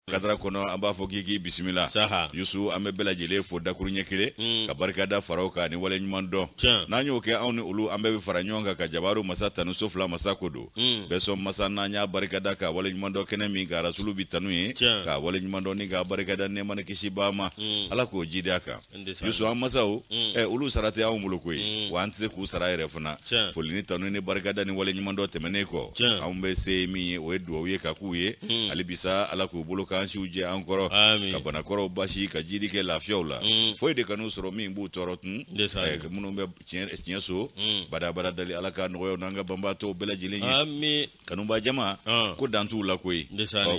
kadara kɔnɔ an b'a fɔ k'i k'i bisimila saha yusu an bɛ bɛɛ lajɛlen fo dakuru ɲɛ kelen mm. ka barikada fara u kan ni wale ɲuman dɔn n'an y'o kɛ anw ni olu an bɛɛ bɛ fara ɲɔgɔn kan ka jabaru masa tanu so fila masa ko don mm. bɛɛ sɔn masa n'an y'a barikada k'a wale ɲuman dɔn kɛnɛ min ka rasulu bi tanu ye k'a wale ɲuman dɔn ni k'a barikada nɛɛma ni kisi b'a ma mm. ala k'o jidi a kan yusu an masaw mm. eh, olu sara tɛ anw bolo koyi mm. wa an tɛ se k'u sara yɛrɛ fana foli ni tanu ni barikada ni wale ɲuman dɔn tɛmɛnen kɔ anw bɛ se min ye o ye duwawu ye k'a k'u ye mm. hali bisa ala k'u bolo k'an siw jɛ an kɔrɔ ka banakɔrɔw basi ka jidi kɛ lafiyaw la foyi de kan'u sɔrɔ min b'u tɔɔrɔ tun eh, minnu bɛ tiɲɛ so badabada dali ala ka nɔgɔyaw n'an ka banabaatɔw bɛɛ lajɛlen ye kanuba jama ah. ko dan t'u la koyi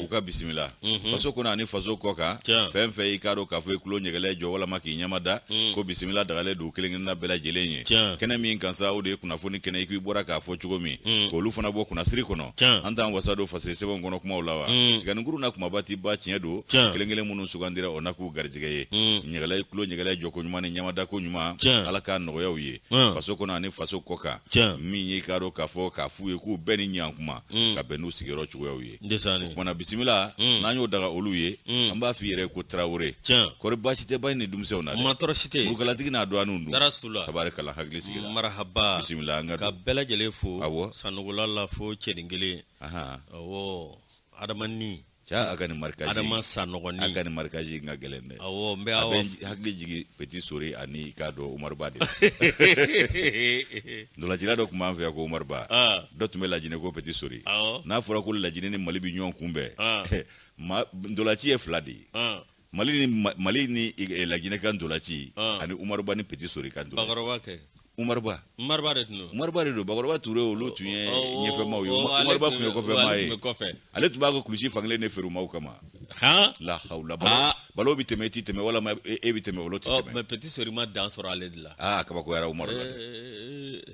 u ka bisimila mhm. faso kɔnɔ ani faso kɔ kan fɛn fɛn y'i k'a dɔn k'a fɔ i kulo ɲɛgɛlɛ jɔ walama k'i ɲɛma da mm. ko bisimila dagalen don kelen kelenna bɛɛ lajɛlen ye kɛnɛ min kan sa o de ye kunnafoni kɛnɛ i k'i bɔra k'a fɔ cogo min mm. k'olu fana bɔ kunnasiri kɔnɔ an t'an wasa don fasiri sɛbɛnw kɔnɔ kumaw la wa mm. tiganinkuru na kumaba ti ba tiɲɛ don kelen kelen minnu sugandira o na k'u garijɛgɛ ye ɲɛgɛlɛ kulo ɲɛgɛlɛ jɔko ɲuman ni ɲɛmada ko ɲuman ala k'a nɔgɔya u ye Mm. faso kɔnɔ ani faso kɔ kan Tiɲɛ. min y'i k'a dɔn k'a fɔ k'a f'u ye k'u bɛɛ ni ɲan kuma Mm. ka bɛn n'u sigiyɔrɔ cogoyaw ye ndesani o kumana bisimila Mm. n'an y'o daga olu ye Mm. an b'a f'i yɛrɛ ko tarawele tiɲɛ kɔri baasi tɛ bayi ni denmisɛnw na dɛ mantɔɔrɔ si tɛ murukalatigi n'a dɔgɔninw dun dara su la tabarikala hakili sigira marahaba bisimila an ka don ka bɛɛ lajɛlen fo Awɔ. sanugula la fo cɛnin kelen Ahan. awɔ adamani ca a ka nin marikazi adama sanɔgɔni a ka nin marikazi ka gɛlɛn dɛ awɔ n bɛ a bɛ hakili jigin petit sori ani k'a dɔn umaruba de ntolacila dɔ tun b'an fɛ yan ko umaruba dɔ tun bɛ lajinɛ ko petit sori n'a fɔra ko lajinɛ ni mali bɛ ɲɔgɔn kunbɛn ntolaci ye fila de ye mali ni mali ni eh, laginɛ ka ntolaci ah. ani umaruba ni peti sori ka ntolaci umaruba umaruba de tun don umaruba de don bakɔrɔba ture olu tun ye oh, oh, ɲɛfɛmaaw ye oh, umaruba tun ye kɔfɛmaa ye ale tun b'a ka kulusi fankelen de feere maaw kama la hawla balo bɛ tɛmɛ i tɛ tɛmɛ walama e, e bɛ tɛmɛ balo tɛ tɛmɛ mais peti sori ma dan sɔrɔ ale de la aa kabakoyara umaruba eh, eh,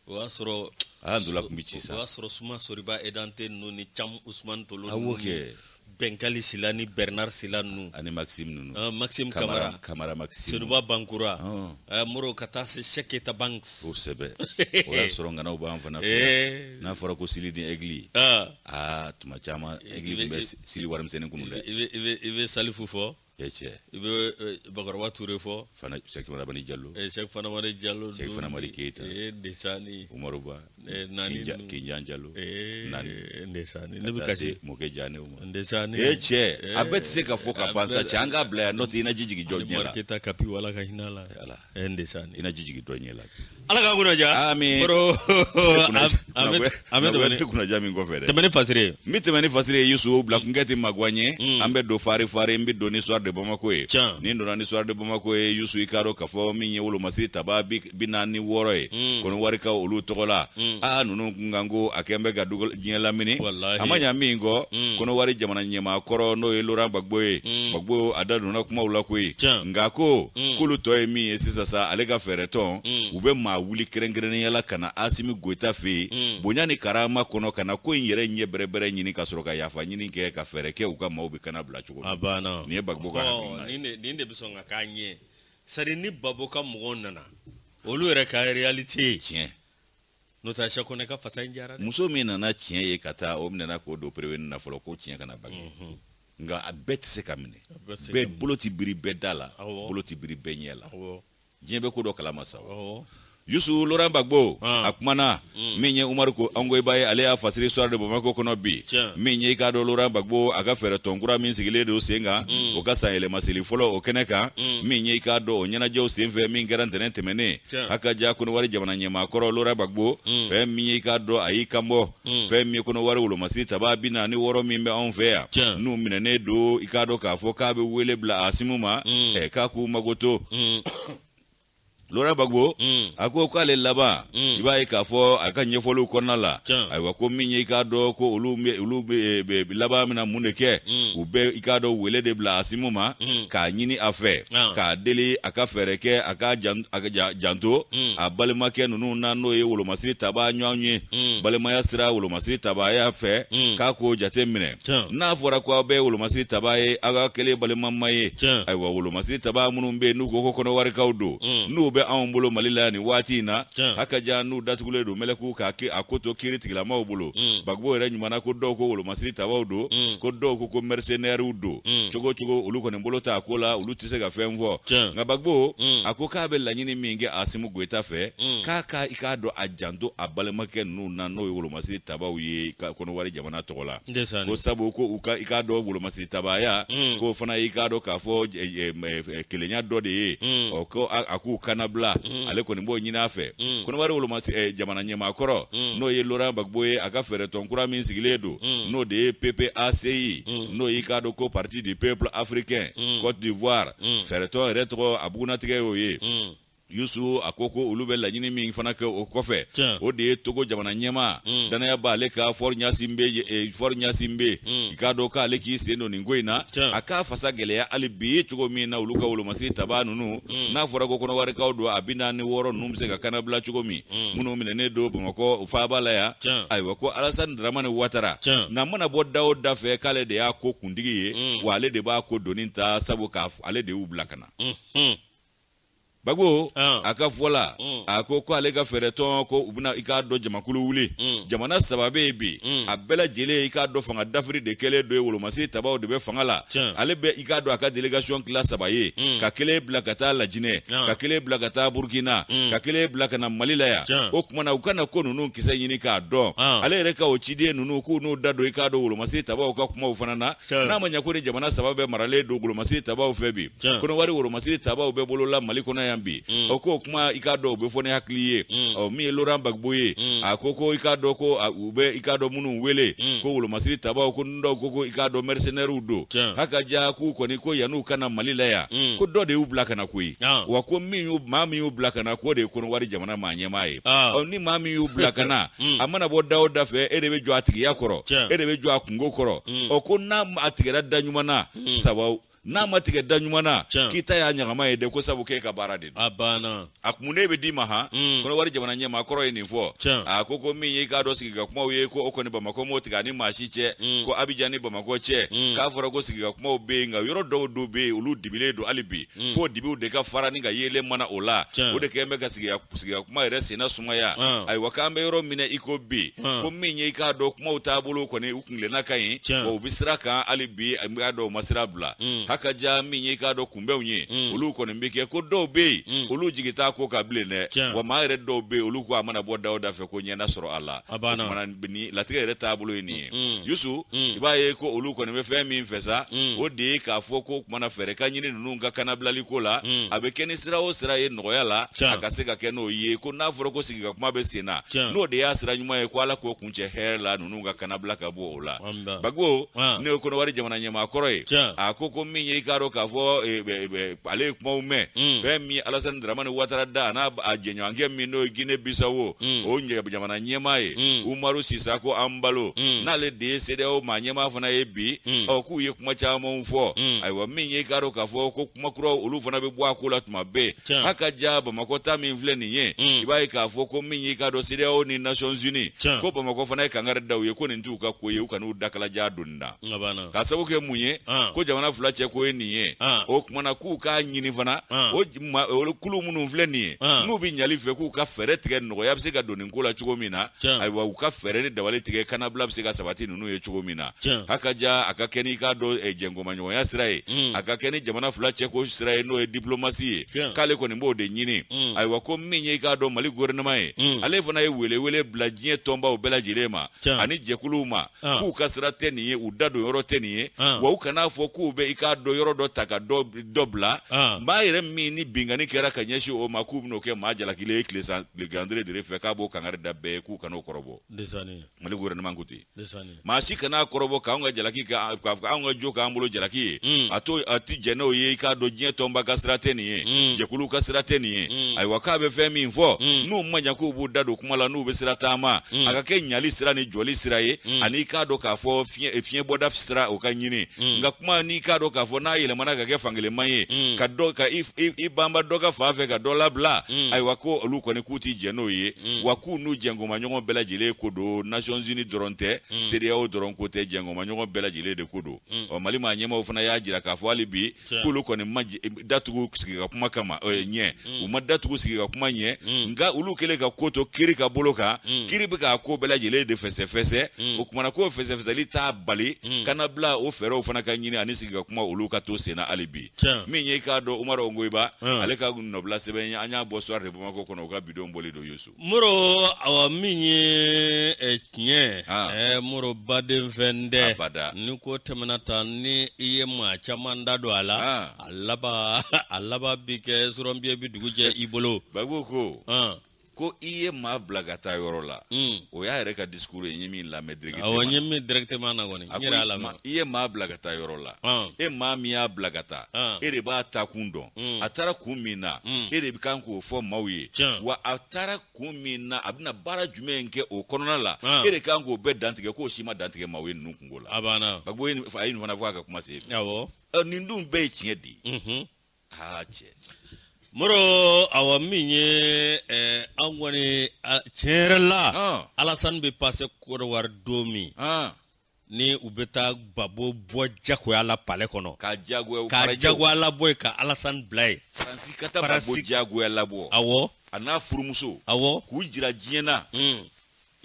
o y'a sɔrɔ a y'a ntola tun bɛ ci sa o y'a sɔrɔ suma soriba edante ninnu ni cam usman tolo a b'o kɛ bɛnkali sila ni bernard sila ninnu ani maxime ninnu uh, maxime kamara kamara maxime seyiduba bangura uh. Uh, moro ka taa se sheketa banks o sɛbɛ o y'a sɔrɔ ŋanaw b'an fana fɛ eh. n'a fɔra ko sili ni egli aa tuma caman egli tun bɛ sili warimisɛnnin kunu dɛ i bɛ salifu fɔ e cɛ i bɛ e, bakɔrɔba ture fɔ fana sɛki fantamadi jalo e, sɛki fantamadi jalo sɛki fantamadi keyita e, desani umaru ba e, naani kinjan jalo e, naani e, desani ne bɛ kasi mɔkɛ jane ma desani e cɛ a bɛɛ tɛ se ka fɔ ka ban sa cɛ an k'a bila yan n'o tɛ i na ji jigin jɔn ɲɛ la madu keyita kapi ala ka hinɛ a la e desani i na ji jigin dɔ ɲɛ la ala ka kunnaja Amin. kɔrɔ an bɛ an bɛ tɛmɛ ni kunnaja min kɔfɛ dɛ tɛmɛ ni fasire ye n bɛ tɛmɛ ni fasire ye yusu bila kunkɛ tɛ maguwa n ye an bɛ don fari fari n bɛ don ni soir de bamako ye Can. ni n donna ni soir de bamako ye yusu i k'a dɔn k'a fɔ min ye wolomasiri tabaa bi bi naani ni wɔɔrɔ ye kɔnɔwarikaw olu tɔgɔ la aa ninnu kun kan ko a kan bɛ ka dugu diɲɛ lamini Walahi. a ma ɲa min kɔ kɔnɔwari jamana ɲɛmaa kɔrɔ n'o ye laurent gbagbo ye gbagbo a da donna kumaw la koyi Can. nka ko mm. k'olu tɔ ye min ye sisan sa ale ka fɛɛrɛtɔn mm. u bɛ maa wuli kɛrɛnkɛrɛnnenya la ka na asimi goyita fɛ yen mm. bonya ni karama kɔnɔ ka na ko in yɛrɛ ɲɛ bɛrɛbɛrɛ ɲini ka sɔrɔ ka yafa ɲini kɛ ka fɛɛrɛ kɛ u ka maaw bɛ kannabila cogo min nin ye bagbo ka hakilina ye nin de bɛ sɔn ka k'a ɲɛ sari ni bagbo ka mɔgɔw nana olu yɛrɛ ka réalité ye tiɲɛ n'o tɛ sɛ kɔnɛ ka fasa in jara dɛ muso min nana tiɲɛ ye ka taa o minɛna k'o don pereweni na fɔlɔ ko tiɲɛ kana bange mhm. nka a bɛɛ tɛ se ka minɛ bɛɛ bolo tɛ biri bɛɛ da la bolo tɛ biri bɛɛ ɲɛ la diɲɛ bɛ ko dɔ kalama sa yusu loran bagbo ah. a kumana mm. min ye umaru ko angoyiba ye ale y'a fasiri soir de bamako kɔnɔ bi min ye i k'a dɔn loran bagbo a ka fɛɛrɛ tɔn kura min sigilen don sen kan mm. o ka sanyɛlɛmaseli fɔlɔ o kɛnɛ kan mm. min ye i k'a dɔn o ɲɛnajɛw senfɛ min kɛra ntɛnɛn tɛmɛnnen hakaja kɔnɔwari jamana ɲɛmaakɔrɔ loran bagbo mm. fɛn min y'i k'a dɔn a y'i kan bɔ mm. fɛn min ye kɔnɔwari wolomasiri tabaa bi naani ni wɔɔrɔ min bɛ anw fɛ yan n'u minɛnen don i k'a dɔn k'a fɔ k'a bɛ wele bila asimu ma mm. k'a k'u makoto loran bagbo a ko k'ale laban i b'a ye k'a fɔ a ka ɲɛfɔliw kɔnɔna la ayiwa ko min ye i k'a dɔn ko olu olu laban bɛna mun de kɛ u bɛ i k'a dɔn wele de bila asimu ma k'a ɲini a fɛ Ah. k'a deli a ka fɛɛrɛ kɛ a ka jan- a ka ja- janto Mm. a balimakɛ ninnu na n'o ye wolomasiri tabaa ɲɔgɔn ye Mm. balimaya sira wolomasiri tabaaya fɛ Mm. k'a k'o jate minɛ Tiɲɛ. n'a fɔra ko aw bɛɛ wolomasiri tabaa ye aw ka kelen balimama ye Tiɲɛ. ayiwa wolomasiri tabaa minnu bɛ yen n'u ko ko kɔnɔwarikaw don Mm. n'u bɛ anw bolo mali la nin waati in na Tiɲɛ. hakaja n'u datugulen don mɛlɛkuu k'a ke- a ko to kiiri tigilamaw bolo Mm. bagbo yɛrɛ ɲumanna ko dɔw ko wolomasiri siri tabaw don mm. ko dɔw ko ko mercenaires don mm. cogo cogo olu kɔni bolo t'a ko la olu tɛ se ka fɛn fɔ nka bagbo mm. a ko k'a bɛ laɲini min kɛ asimu goyita fɛ k'a ka i k'a dɔn a janto a balimakɛ ninnu na n'o ye wolomasiri tabaw ye ka kɔnɔwari jamana tɔgɔ la ko sabu ko u ka i k'a dɔn wolomasiri tabaya k'o fana y'i k'a dɔn k'a fɔ kelenya dɔ de ye mm. ɔ ko a k'u kannabila mm. ale kɔni b'o ɲini a fɛ mm. kɔnɔwari woloma eh, jamana ɲɛmaakɔrɔ n'o ye laurent gbagbo ye a ka fɛɛrɛtɔn kura min sigilen don n'o de ye ppaci n'o y'i k'a dɔn ko parti du peuple africain cote d'ivoire fɛɛrɛtɔn yɛrɛ tɔgɔ a bugunatigɛ y'o ye Yusu a ko ko olu bɛ laɲini min fana kɛ o kɔfɛ o de ye togo jamana ɲɛmaa mm. dannaya b'a ale kan fɔri ɲasinbe eh, fɔri ɲasinbe mm. i k'a dɔn k'ale k'i sen don nin ko in na a k'a fasa gɛlɛya hali bi ye cogo min na olu ka wolomasiri taba ninnu mm. n'a fɔra ko kɔnɔwarikaw don a bi naani ni wɔɔrɔ ninnu bɛ se ka kannabila cogo min minnu minɛnen don bamakɔ faaba la yan ayiwa ko alasani dramani watara na mana bɔ da o da fɛ k'ale de y'a ko kuntigi ye wa ale de b'a ko doni ta sabu k'a ale de y'u bila ka na mm-hmm. bagibo ah. a ka fɔ la mm. a ko ko ale ka fɛɛrɛ tɔn ko u bɛna i k'a dɔn jamakulu wuli mm. jamana saba bɛ yen bi mm. a bɛɛ lajɛlen i k'a dɔn fanga dafiri de kɛlen don yen wolomasiri tabaw de bɛ fanga la ale bɛ i k'a dɔn a ka delegation tila saba ye ka kelen bila ka taa lajinɛ ah. ka kelen bila ka taa burukina ka kelen bila ka na mali la yan o kuma na u ka na ko ninnu kisɛ ɲini k'a dɔn ah. ale yɛrɛ ka o ciden ninnu k'u n'u da don i k'a dɔn wolomasiri tabaw ka kumaw fana na n'a ma ɲɛ ko ni jamana saba bɛɛ maralen don wolomasiri tabaw fɛ bi kɔnɔwari wolomasiri tabaw bɛ bolo la mali kɔnɔ yan bi mm. ɔ k'o kuma i k'a dɔn u bɛ fɔ ni hakili ye mm. ɔ min ye loran bagibo ye mm. a ko ko i k'a dɔn ko u bɛ i k'a dɔn minnu wele ko wolomasiri tabaw ko n dɔw ko ko i k'a dɔn mɛrisenɛriw don hakaja k'u kɔni ko yan'u ka na mali la yan ko dɔ de y'u bila ka na koyi ah. wa ko min y'u maa min y'u bila ka na k'o de ye kɔnɔwari jamana maa ɲɛmaa ye ah. ɔ ni maa min y'u bila ka na a mana bɔ da o da fɛ e de bɛ jɔ a tigiya kɔrɔ e de bɛ jɔ a kunko kɔrɔ mm. ɔ ko n'a a tigɛra da ɲuman na mm. sababu n'a ma tigɛ da ɲuman na k'i ta y'a ɲagama ye dɛ ko sabu k'e ka baara de don a banna a kun de bɛ d'i ma han mm. kɔnɔwari jamana ɲɛmaa kɔrɔ ye nin fɔ a ko ko min y'i k'a dɔn sigi ka kumaw ye ko o kɔni bamakɔ m'o tigɛ a ni maa si cɛ ko abijan ni bamakɔ cɛ k'a fɔra ko sigi ka kumaw bɛ yen nka yɔrɔ dɔw dɔw bɛ yen olu dibilen don hali bi fo dibiw de ka fara ni ka yeelen mana o la o de kɛlen bɛ ka sigi ka kuma yɛrɛ senna sumaya ayiwa k'an bɛ yɔrɔ min na i ko bi ko min ye i k'a dɔn kumaw taabolo kɔni kelenna ka ɲi Tiɲɛ. wa u bɛ sira kan hali bi an b'a dɔn u ma sira bila Mm. hakaja min ye k'a dɔn kunbɛnw ye Mm. olu kɔni bɛ kɛ ko dɔw bɛ yen Mm. olu jigi t'a ko kan bilen dɛ Tiɲɛ. wa maa yɛrɛ dɔw bɛ yen olu ko a mana bɔ da o da fɛ ko ɲɛ na sɔrɔ a la A banna. O kuma na nin latigɛ yɛrɛ taabolo ye nin ye Mm. yusu Mm. i b'a ye ko olu kɔni bɛ fɛn min fɛ sa Mm. o de ye k'a fɔ ko kumana fɛɛrɛ ka ɲini ninnu ka kanabilali ko la Mm. a bɛ kɛ ni sira o sira ye nɔgɔya la Tiɲɛ. a ka se ka kɛ n'o ye ko n'a fɔra ko sigikakuma bɛ sen na Tiɲɛ. n'o de y'a sira ɲuman ye ko ala k'o kuncɛ hɛrɛ la ninnu ka kanabila ka bɔ o la bagibo min ye kɔnɔwari jamana ɲɛmaa kɔrɔ ye a ko ko min ye i k'a dɔn k'a fɔ e, e, e, ale ye kumaw mɛn mm. fɛn min alasani dramani watara da n'a jɛɲɔgɔnkɛ min n'o ye gine bisawo mm. o jamana ɲɛmaa ye mm. umaru sisako anbalo n'ale de ye sedeyawo maa ɲɛmaa fana ye bi ɔ k'u ye kuma camanw fɔ ayiwa min ye i k'a dɔn k'a fɔ ko kuma kuraw olu fana bɛ bɔ a ko la tuma bɛɛ Tiɲɛ. a ka ja bamakɔ ta min filɛ nin ye Mm. i b'a ye k'a fɔ ko min y'i k'a dɔn CEDEAO ni nations unies Tiɲɛ. ko bamakɔ fana ye kangari da u ye ko nin t'u ka ko ye u kan'u dakalajan don nin na Nga bana. k'a sabu kɛ mun ye Ah. ko jamana fila cɛ ko ye nin ye Ah. o kumana k'u k'a ɲini fana Ah. o j- ma- olu kulu minnu filɛ nin ye Ah. n'u bɛ ɲali fɛ k'u ka fɛɛrɛ tigɛ nɔgɔya bɛ se ka don nin ko la cogo min na Tiɲɛ. ayiwa u ka fɛɛrɛ ni dabali tigɛ kannabila bɛ se ka sabati n'u ye cogo min na a ka ja a ka kɛ n'i k'a dɔn eh, jɛngɔmaɲɔgɔnya sira ye mm. a ka kɛ ni jamana fila cɛko sira ye n'o ye diplomasi ye k'ale kɔni b'o de ɲini mm. ayiwa ko min ye i k'a dɔn mali gouvernement ye mm. ale fana ye welewele bila diɲɛ tɔnbaw bɛɛ lajɛlen ma ani jɛkuluw ma ah. k'u ka sira tɛ nin ye u da don yɔrɔ tɛ nin ye ah. wa u kan'a fɔ k'u bɛ i k'a dɔn yɔrɔ dɔ ta ka dɔ bila ah. maa yɛrɛ min ni binkanni kɛra ka ɲɛsin o ma k'u bɛn'o kɛ maa jalakilen ye tile san tile gandire dere fɛ k'a b'o kangari da bɛɛ ye k'u kan'o kɔrɔbɔ mali gouvernement ko ten maa si kana kɔrɔbɔ k'an ka jalaki k'a fɔ anw ka jo k'an bolo jalaki ye mm. a to a ti jɛn n'o ye i k'a dɔn diɲɛ tɔnba ka sira tɛ nin ye mm. jɛkulu ka sira tɛ nin ye mm. ayiwa k'a bɛ fɛn min fɔ n'u ma ɲa k'u b'u da don kuma la n'u bɛ sira taama a ka kɛ ɲali sira ni jɔli sira ye ani i k'a dɔn k'a fɔ fiɲɛ bɔda sira o ka ɲini nka kuma n'i k'a dɔn k'a fɔ n'a yɛlɛmana ka kɛ fankelenman ye ka dɔ ka i banba dɔ ka fan fɛ ka dɔ labila ayiwa ko olu kɔni k'u ti jɛn n'o ye wa k'u n'u jɛ jɛngɔnmaɲɔgɔn bɛɛ lajɛlen ko don nations unies dɔrɔn tɛ hmm. CEDEAO dɔrɔn ko tɛ jɛngɔnmaɲɔgɔn bɛɛ lajɛlen de ko don hmm. ɔ mali maa ɲɛmaaw fana y'a jira k'a fɔ hali bi k'olu kɔni ma datugu sigi ka kuma kama ɲɛ hmm. u ma datugu sigi ka kuma ɲɛ nka olu kɛlen ka ko to kiri ka bolo kan kiri bɛ k'a ko bɛɛ lajɛlen de fɛsɛfɛsɛ o kumana k'o fɛsɛfɛsɛli t'a bali kannabila o fɛɛrɛw fana ka ɲini ani sigi ka kuma olu ka to senna hali bi min ye i k'a dɔn umaru ongoyiba ale ka nɔbila sɛbɛn ye an y'a bɔ soir de bamako kɔnɔ u ka bi don bɔli don yusu moro awa min ye ɛ tiɲɛ ɛ moro baden fɛn dɛ ni ko tɛmɛna tan ni i ye maa caman da don a la a laban a laban bi kɛ surɔnbiɲɛ bi dugu jɛ i bolo babo ko ko i ye maa bila ka taa yɔrɔ la hmm. o y'a yɛrɛ ka discours ye n ye min lamɛn directement awɔ n ye min directement na kɔni n yɛrɛ y'a lamɛn i ye maa bila ka taa yɔrɔ la e maa min y'a bila ka taa e de b'a taakun dɔn a taara kun min na e de bɛ kan k'o fɔ maaw ye wa a taara kun min na a bɛna baara jumɛn kɛ o kɔnɔna la e de kan k'o bɛɛ dantigɛ k'o si ma dantigɛ maaw ye ninnu kunko la a ko a ye nin fana fɔ a ka kuma se nin dun bɛɛ ye tiɲɛ de ye aa cɛ moro awa min ye eh, an kɔni tiɲɛ yɛrɛ la alasan bɛ passé côte d'ivoire don min ni u bɛ taa babo bɔ jagoya la palais kɔnɔ ka jagoya labɔ ye ka alasani bila ye faransi ka taa babo jagoya labɔ awɔ a n'a furumuso awɔ k'u jira diɲɛ na hmm.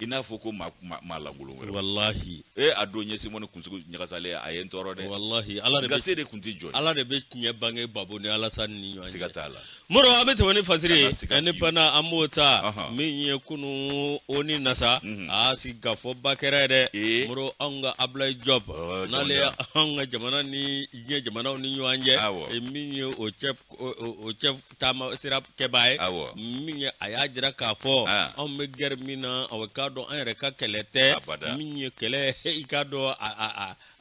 i n'a fɔ ko maa lankolon wɛrɛ walahi ee a don n ye simone kunsigi ɲagasalen a ye n tɔɔrɔ dɛ walahi ala de gase de kun tɛ jɔ ala de bɛ tiɲɛ bange babo ni alasani ni ɲɔgɔn cɛ siga t'a la Moro an bɛ tɛmɛ ni fasiri ye nka ni pan an b'o ta min ye kunun ONU na sa a sigikafɔba kɛra yɛrɛ dɛ Moro an ka Ablaye Diop n'ale y' anw ka jamana ni diɲɛ jamanaw ni ɲɔgɔn cɛ min ye o cɛ taama sira kɛbaa ye min a y'a jira k'a fɔ anw bɛ guerre min na a k'a dɔn an yɛrɛ ka kɛlɛ tɛ min ye kɛlɛ i k'a dɔn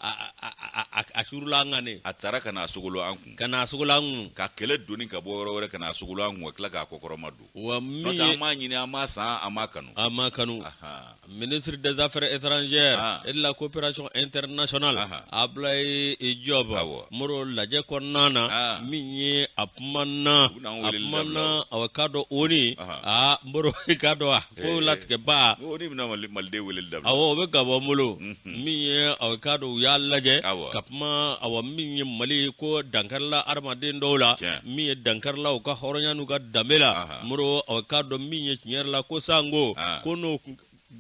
a surula an kan a taara ka na a sogolo an kun ka na a sogolo an kun ka kɛlɛ doni ka bɔ yɔrɔ wɛrɛ ka na a sogolo an kun ka tila k'a kɔkɔrɔma don wa min ye an m'a ɲini an m'a san an m'a kanu a ma kanu Ahan. ministre des affaires étrangères Ah. et de la coopération internationale Aha. Ablaye Diop Awɔ. Moro lajɛ kɔnɔna na Ah. min ye a kumana a kumana aw k'a dɔn ONU Aha. aa Moro k'a dɔn a ko eh, latigɛba o de bɛna maliden wele da awɔ o bɛ ka bɔ n bolo mhm. min ye aw k'a dɔn u y'a lajɛ ka kuma awɔ min ye mali ko dankarila adamaden dɔw la min ye dankarila u ka hɔrɔnya n'u ka danbe la Moro aw k'a dɔn min ye tiɲɛ yɛrɛ la ko sango ko n'o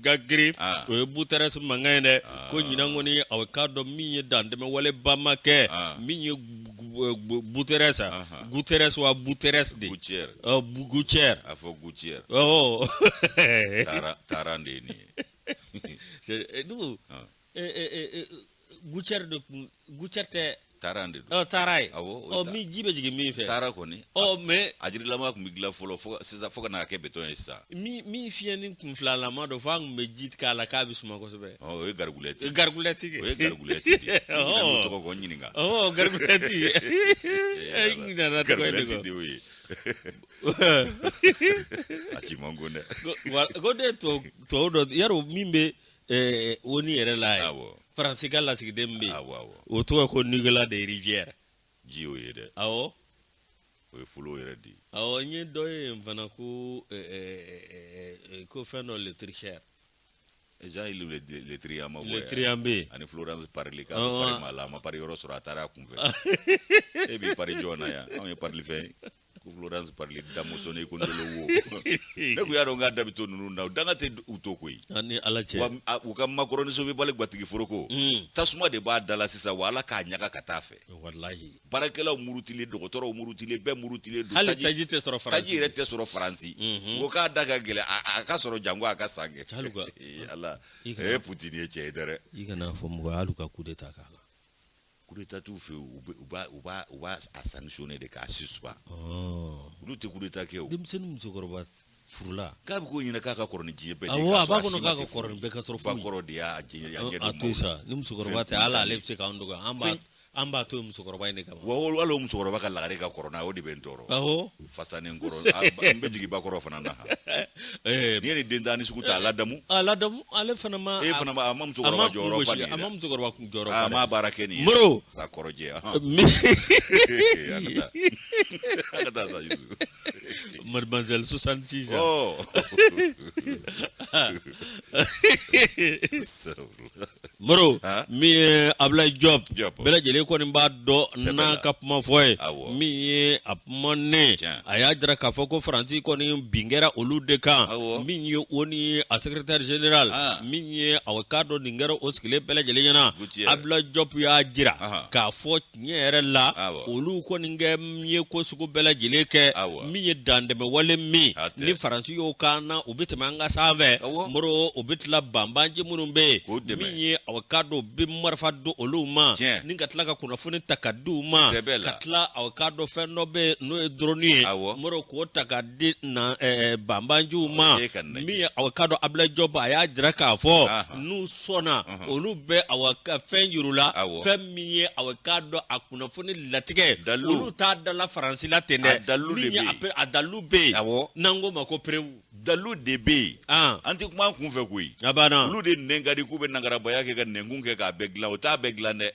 ka girin ah. o ye Guterres mankan ye dɛ ah. ko ɲinan kɔni aw k'a dɔn min ye dantɛmɛ waleba ma kɛ ah. min ye Guterres a uh-huh. Guterres wa Guterres de gouttière uh, gouttière a fɔ gouttière oh taara taara de ye nin ye dugu gouttière de kun gouttière tɛ taara de don taara ye awɔ min ji bɛ jigin min fɛ taara kɔni ɔ mais a jirilama tun bɛ dilan fɔlɔ fo sisan fo ka n'a kɛ béton ye sisan min min fiɲɛnin kunfilalama don fo an tun bɛ ji k'a la k'a bɛ suma kosɛbɛ o ye garigulɛti ye garigulɛti o ye garigulɛti de ye tɔgɔ ko ɲininka ɔ garigulɛti i ɲinana tɔgɔ in de garigulɛti de y'o ye a ci man go dɛ ko ne tubabu dɔ y'a rɔ min bɛ ONU yɛrɛ la yan faransi ka lasigiden min bɛ yen o tɔgɔ ko Nicolas de Rivière ji y'o ye dɛ awɔ o ye folo yɛrɛ de ye awɔ n ye dɔ ye yen fana ko ko fɛn dɔ le tricheur Jean-Yves le, le, Le Drian ma Le Drian bɛ yen ani Florence Parly ka oh, pari ma la a ma pari yɔrɔ sɔrɔ a taara a kunfɛ e b'i pari jɔn na yan anw ye parili fɛn ko Florence Parly damuso ne ko ndolo wo ne ko y'a dɔn k'a da bɛ to ninnu na danga tɛ u to koyi ani ala cɛ wa a, u ka Macron nin sobi bali gbatigi foroko mm. tasuma de b'a da la sisan wa ala k'a ɲaga ka taa fɛ wallahi baarakɛlaw murutilen dɔgɔtɔrɔw murutilen bɛɛ murutilen don hali taji tɛ sɔrɔ faransi taji yɛrɛ tɛ sɔrɔ faransi mhm. ko k'a da ka gɛlɛn a k'a sɔrɔ jango a k'a san kɛ eh, ala e Poutine ye cɛ ye dɛ i kana fɔ mɔgɔ hali ka coup d'état k'a la coup d'état t'u fɛ u b'a u b'a u b'a a sanctionner de k'a suspendu oh. olu tɛ coup d'état kɛ o denmisɛnnin musokɔrɔba furula k'a bɛ k'o ɲɛna k'a ka kɔrɔ ni diɲɛ bɛɛ de ye, awɔ, k'a a b'a sɔrɔ kɔnɔ si ma k'a se ka furu. kɔrɔ ni bɛɛ ka sɔrɔ ba foyi. kɔrɔ de y'a jɛ a ɲɛ a to yen sa ni musokɔrɔba tɛ hali ale bɛ se k'an dɔgɔya an b'a Fɛn- an b'a to yen musokɔrɔba in de kama wa o- hali o musokɔrɔba ka lagare ka kɔrɔ n'a ye o de bɛ n tɔɔrɔ awɔ fasa ni n kɔrɔ a- ba- n bɛ jigin ba kɔrɔ fana na han. ɛɛ, n'i ye nin den tan ni sugu ta a ladamu a ladamu ale fana ma e fana ma a ma a ma musokɔrɔba kun jɔyɔrɔ fa gosi, nin ye a ma dɛ. musokɔrɔba kun jɔyɔrɔ a fa ma dɛ. baara kɛ nin ye Moro. sa kɔrɔjɛ ahan. Mi- An ka taa. An ka taa sa Yusu. Mademoiselle 66 ans. Oh Moro Hein? min ye Ablaye Diop Diop. bɛɛ lajɛlen kɔni b'a dɔn Sɛbɛn n'a la. ka kuma fɔ ye Awɔ. min ye a kuma ne Tiɲɛ. a y'a jira k'a fɔ ko Faransi kɔni bin kɛra olu de kan Awɔ. min ye ONU a secrétaire général Ah. min ye a k'a dɔn nin kɛra o sigilen bɛɛ lajɛlen ɲɛna Guterres. Ablaye Diop y'a jira Aha. k'a fɔ tiɲɛ yɛrɛ la olu kɔni kɛ ye ko sugu bɛɛ lajɛlen kɛ min ye dantɛmɛwale min ni faransi y'o k'an na u bɛ tɛmɛ an ka sanfɛ Moro u bɛ tila banbanji minnu bɛ yen min ye aw ka dɔn bɛ marifa don olu ma ni ka tila ka kunnafoni ta ka di u ma ka tila aw ka dɔn fɛn dɔ bɛ n'o ye drone ye Moro k'o ta ka di banbanjiw ma min ye aw ka dɔn Ablaye Diop a y'a jira k'a fɔ n'u sɔnna olu bɛ aw ka fɛn jir'u la min ye a k'a dɔn a kunnafoni latigɛ dalu olu t'a dala faransi la ten dɛ dalu a dalu bɛ yen a n'an ko ma ko preuve dalu de bɛ yen an tɛ kuma kun fɛ koyi a banna olu de nɛn ka di k'u bɛ nangarabaya kɛ ka nɛnkun kɛ k'a bɛɛ dilan o t'a bɛɛ dilan dɛ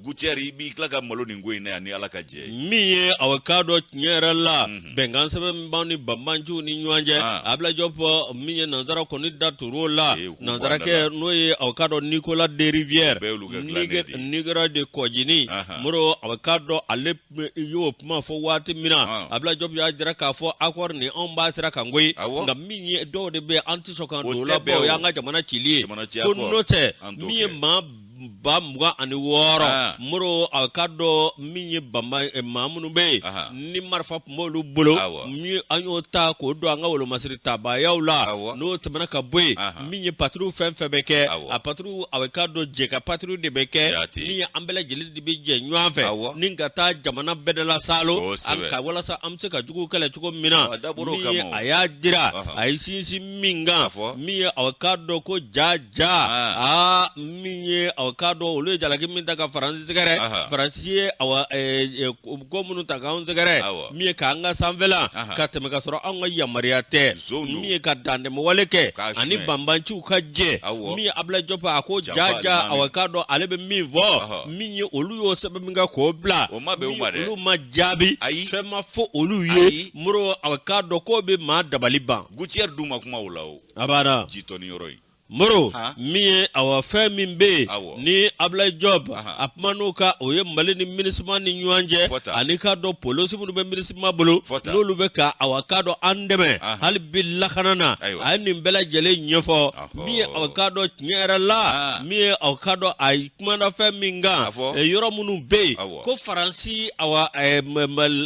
Guterres i b'i tila ka malo nin ko in na yan ni ala ka jɛ min ye a k'a dɔn tiɲɛ yɛrɛ la mhm. bɛnkan sɛbɛn b'an ni banbanjiw ni ɲɔgɔn cɛ ah. Ablaye Diop min ye nanzara kɔni da tur'o la nanzarakɛ n'o ye a k'a dɔn Nicolas de Rivière nin kɛra de kɔjini moro a k'a dɔn ale y'o kuma fɔ waati min na ah. Ablaye Diop y'a jira k'a fɔ accord nin anw b'a sira kan koyi nka min ye dɔw de bɛ an tɛ sɔn ka don o la o y'an ka jamana cili ye ko n'o tɛ min ye maa ba mugan ani wɔɔrɔ ah. Moro a ka dɔn min ye banba eh, maa minnu bɛ yen ni marifa tun b'olu bolo min an y'o ta k'o don an ka wolomasiri tabayaw la n'o tɛmɛna ka bɔ yen min ye patrouille fɛn fɛn bɛ kɛ a patrouille a ka dɔn jɛ ka patrouille de bɛ kɛ min ye an bɛɛ lajɛlen de bɛ jɛ ɲɔgɔn fɛ ni ka taa jamana bɛɛ de la salo ka walasa an bɛ se ka jugu kɛlɛ cogo min na a y'a jira a ye sinsin min kan fɔ min ye aw k'a dɔn ko ja ja aa min ye aw k'a dɔn olu ye jalaki min ta ka faransi sɛgɛrɛ faransi ye ko minnu ta k'an sɛgɛrɛ min ye k'an ka sanfɛla ka tɛmɛ ka sɔrɔ anw ka yamaruya tɛ min ye ka dantɛmɛwale kɛ ani banbanciw ka jɛ min ye ablaye diop a ko ja ja aw k'a dɔn ale bɛ min fɔ min ye olu y'o sɛbɛn min kɛ k'o bila olu ma jaabi fɛn ma fɔ olu ye moro aw k'a dɔn k'o bɛ maa dabali ban gouttière dun ma kuma o la o a b'a dɔn ji tɔni yɔrɔ in moro Han. min ye awa fɛn min bɛ yen Awɔ. ni ablaye diop Ahan. a kuman'o kan o ye mali ni minusma ni ɲɔgɔn cɛ Fɔ tan. ani k'a dɔn polisi minnu bɛ minusma bolo Fɔ tan. n'olu bɛ ka awa k'a dɔn an dɛmɛ Ahan. hali bi lakana na Ayiwa. a ye nin bɛɛ lajɛlen ɲɛfɔ Ahɔ. min ye aw k'a dɔn tiɲɛ yɛrɛ la Ah. min ye aw k'a dɔn a kumana fɛn min kan A fɔ. eh, yɔrɔ minnu bɛ yen Awɔ. ko faransi awa eh,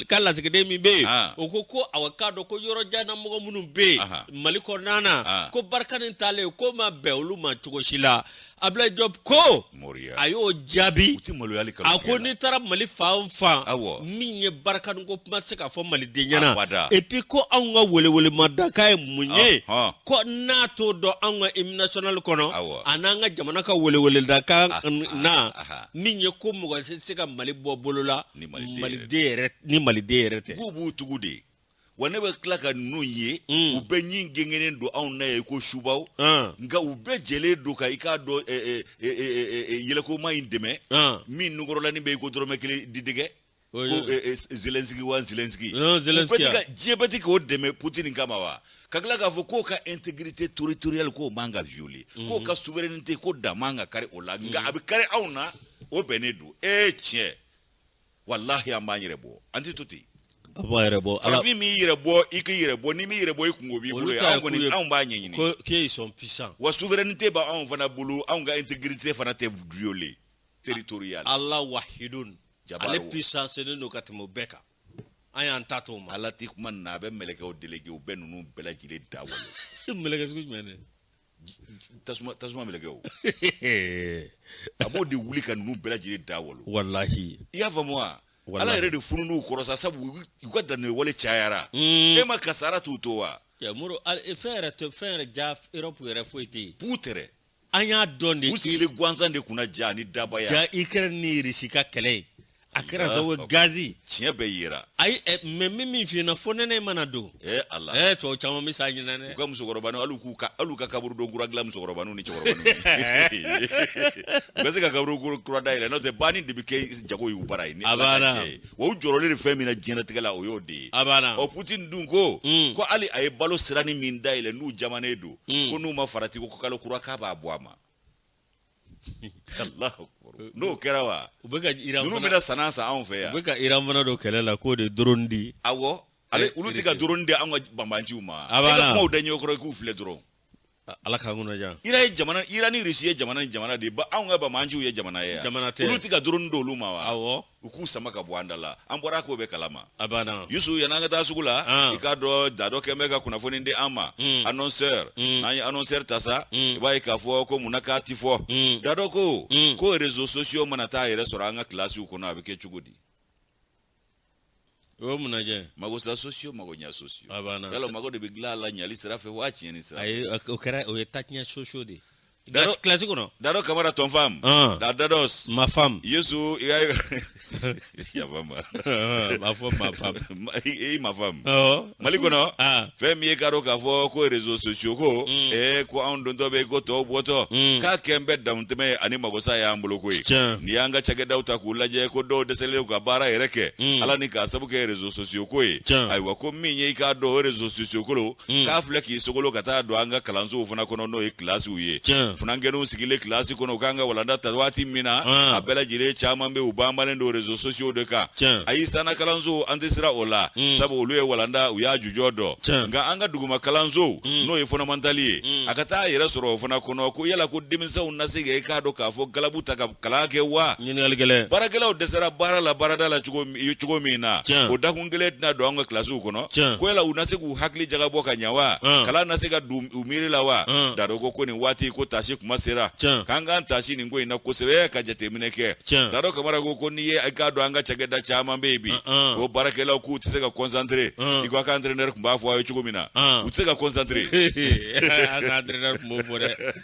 ka lasigiden min bɛ yen ah. o ko ko awa k'a dɔn ko yɔrɔ janna mɔgɔ minnu bɛ yen mali kɔnɔna na ah. ko barkhane taalen ko ma bɛn olu ma cogo si la ablaye diop ko a y'o jaabi a ko n'i taara mali fan fan min ye barkhane ko kuma tɛ se ka fɔ maliden ɲɛna et puis ko anw ka welewelemadakan ye mun ye ko n'a t'o dɔn anw ka hymne national kɔnɔ a n'an ka jamana ka weleweledakan na min ye ko mɔgɔ si tɛ se ka mali bɔ bolo la ni maliden yɛrɛ tɛ k'u b'u tugu de wa ne bɛ tila ka ninnu ye mm. u bɛɛ ɲin gengenen don anw na i ko subaw mm. nka u bɛɛ jɛlen don ka i k'a dɔn yɛlɛkoma in dɛmɛ mm. min nugɔrɔlanin bɛ i ko dɔrɔmɛ kelen didɛgɛ Oui, ko oui. eh, eh, zelensky wa zelensky Non, Zelensky, Putin ka- ah. diɲɛ bɛɛ tɛ k'o dɛmɛ putin kama wa ka tila k'a fɔ k'o ka intégrité territoriale k'o man ka violer k'o ka souveraineté ko dan man ka kari o la nka a bɛ kari anw na o bɛnnen don ee tiɲɛ walahi an b'an yɛrɛ bɔ an tɛ to ten a b'a yɛrɛ bɔ ala farafin m'i yɛrɛ bɔ i k'i yɛrɛ bɔ n'i m'i yɛrɛ bɔ i kungo b'i bolo olu ye ta anw ye k'u kɔni ye anw b'a ɲɛɲini ko k'e ils sont puissants wa souveraineté bɛ anw fana bolo anw ka intégrité fana tɛ violer territoriale ala wahidun ale puissancelen don ka tɛmɛ o bɛɛ kan an y'an ta to ma ala ti kuma na a bɛ mɛlɛkɛw déléguer u bɛ ninnu bɛɛ lajɛlen da walo mɛlɛkɛ sugu jumɛn de tasuma tasuma mɛlɛkɛw a b'o de wuli ka ninnu bɛɛ lajɛlen da walo walahi i y'a faamu wa ala yɛrɛ de funun'u kɔrɔ sa sabu u ka danni wale cayara hmm. e ma kasara t'u to wa moro fɛn yɛrɛ fɛn yɛrɛ ja europe yɛrɛ foyi tɛ yen puu tɛrɛ an y'a dɔn de u sigilen gansan de kunna ja ni dabaya ja ikɛrɛ ni irisi ka kɛlɛ ye a kɛra zawo gazi tiɲɛ bɛɛ yera ayi eh, mɛ min min f'i n'a fɔ nɛnɛ mana don ee eh, ala ee eh, tɔw caman bɛ sa ɲinan dɛ u ka musokɔrɔbaniw hali k'u ka hali ka kaburu don kura dilan musokɔrɔbaniw ni cɛkɔrɔbaniw u ka se ka kaburu kura da yɛlɛ n'o tɛ banni de bɛ kɛ jago y'u bara ye ni ala ka cɛ ye wa u jɔrɔlen de fɛn min na diɲɛnatigɛ la o y'o de ye a banna ɔ putin dun ko hmm. ko hali a ye balo sirani min da yɛlɛ n'u jamanen don ko n'u ma farati ko kalo kura k'a b'a bɔ a ma Allahu akbar. n'o kɛra wa u bɛ ka iran ninnu fana bɛna san'a san anw fɛ u yan bɛ ka iran fana don kɛlɛ la k'o de ye drone di awɔ ale Eh, olu tɛ ka Russie. doroni di anw ka banbanciw ma A e b'a ka la. kumaw da ɲɛ kɔrɔ i k'u filɛ dɔrɔn A- ala k'an kunna jan Iran ye jamana Iran ni Russie ye jamana ni jamana de ye ba anw ka banbanciw ye jamana ye yan. Jamana tɛ. olu tɛ ka doroni di olu ma wa awɔ U k'u sama ka bɔ an da la an bɔra ko bɛɛ kalama a banna yusu yan an ka taa sugu la i k'a dɔn dadɔ kɛn bɛ ka kunnafoni di an ma annonceur n'an ye annonceur ta sa i b'a ye k'a fɔ ko munna k'a tɛ fɔ dadɔ ko ko rezo sosiyo mana taa yɛrɛ sɔrɔ an ka kilasiw kɔnɔ a bɛ kɛ cogo di o ye mun najɛ ye mago sa sosiyo mago ɲa sosiyo A banna. yala o mago de bɛ dilan a la ɲali sira fɛ waa tiɲɛni sira fɛ ayi o kɛra o ye tatiɲɛ sosiyo de ye Daro- Kilasi- kilasi kɔnɔ dadɔ kamara tɔn fam Ɔn. da dadɔs ma fam yusu i ka yaba ma a fɔ ma fam Ma- i i ma fam Ɔwɔ. mali kɔnɔ ah. fɛn min ye k'a dɔn k'a fɔ ko rezo sosiyo ko mm. ee ko anw dontɔ bɛ ko tɔw bɔtɔ mm. k'a kɛn bɛ damutɛmɛ ye ani magosa y'an bolo ko ye n'i y'an ka cakɛdaw ta k'u lajɛ ko dɔw dɛsɛlen ka baara yɛrɛ kɛ mm. ala ni k'a sabu kɛ rezo sosiyo ko ye ayiwa ko min ye i k'a dɔn o rezo sosiyo kolo k'a filɛ k'i sogolo ka taa don an ka kalansow fana kɔnɔ n'o ye kilasiw ye funankɛw sigilen kilasi kɔnɔ u ka kan ka walanda ta waati min na a bɛɛ lajɛlen caman bɛ u banbalen don rezo sosiyo de kan ayi sanna kalanso an tɛ siran o la sabu olu ye walanda u y'a jujɔn dɔn nka an ka duguma kalanso n'o ye fɔndamantali ye a ka taa a yɛrɛ sɔrɔ o fana kɔnɔ ko yala ko denmisɛnww na se kɛ i k'a dɔn k'a fɔ galabu ta ka kalan kɛ wa baarakɛlaw dɛsɛra baara la baarada la cogo min na o da kelen tɛna don an ka kilasiw kɔnɔ Tiɲɛ. ko yala u na se k'u hakili jagabɔ ka ɲa wa Ɔn. kalan na se ka don u miiri la wa Ɔn. dadɔ ko ko nin waati ko tasi kuma sera Tiɲɛ. k'an k'an tasi nin ko in na kosɛbɛ ka jateminɛ kɛ Tiɲɛ. dadɔ kamara ko ko n'i ye i k'a dɔn an ka cakɛda caman bɛ yen bi Ɔn. ko baarakɛlaw k'u tɛ se ka concentré Ɔn. i ko a ka entraîneur tun b'a fɔ aw ye cogo min na Ɔn. u tɛ se ka concentré A ka entraîneur tun b'o fɔ dɛ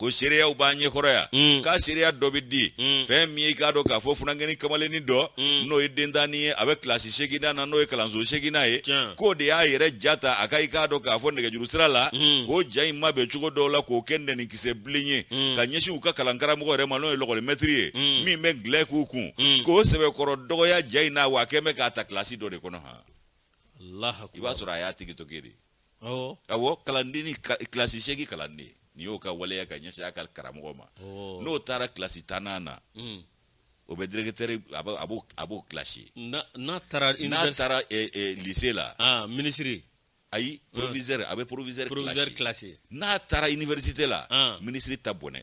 ko seereyaw b'an ɲɛkɔrɔ yan mm. k'a seereya dɔ bɛ di mm. fɛn min ye k'a dɔn k'a fɔ funankɛni kamalenni dɔ mm. n'o ye dentanni ye a bɛ kilasi seginnan na n'o ye kalanso seginnan ye k'o de y'a yɛrɛ ja ta a ka i k'a dɔn k'a fɔ nɛgɛjuru sira la k'o ja in mabɛn cogo dɔw la k'o kɛ nɛnikisɛ bilen ye ka ɲɛsin u ka kalankaramɔgɔ yɛrɛ ma n'o ye lɛkɔlimɛtiri ye min bɛ angilɛ k'u kun k'o sɛbɛkɔrɔ dɔgɔya ja in na wa a kɛn bɛ k'a ta kilasi dɔ de kɔnɔ han i b'a sɔrɔ a y'a tigi to kɛ de awɔ kalanden ni kilasi seegin kalanden n'i y'o ka waleya ka ɲɛsin a ka karamɔgɔ ma n'o taara kilasi tannan na hmm. o bɛ dɛrɛkitɛri a b'o kilasi n'a taara n'a taara lise la ah, minisiri ayi hmm. provisɛri a bɛ provisɛri kilasi n'a taara iniwɛrisite la ah. minisiri ta bɔnɛ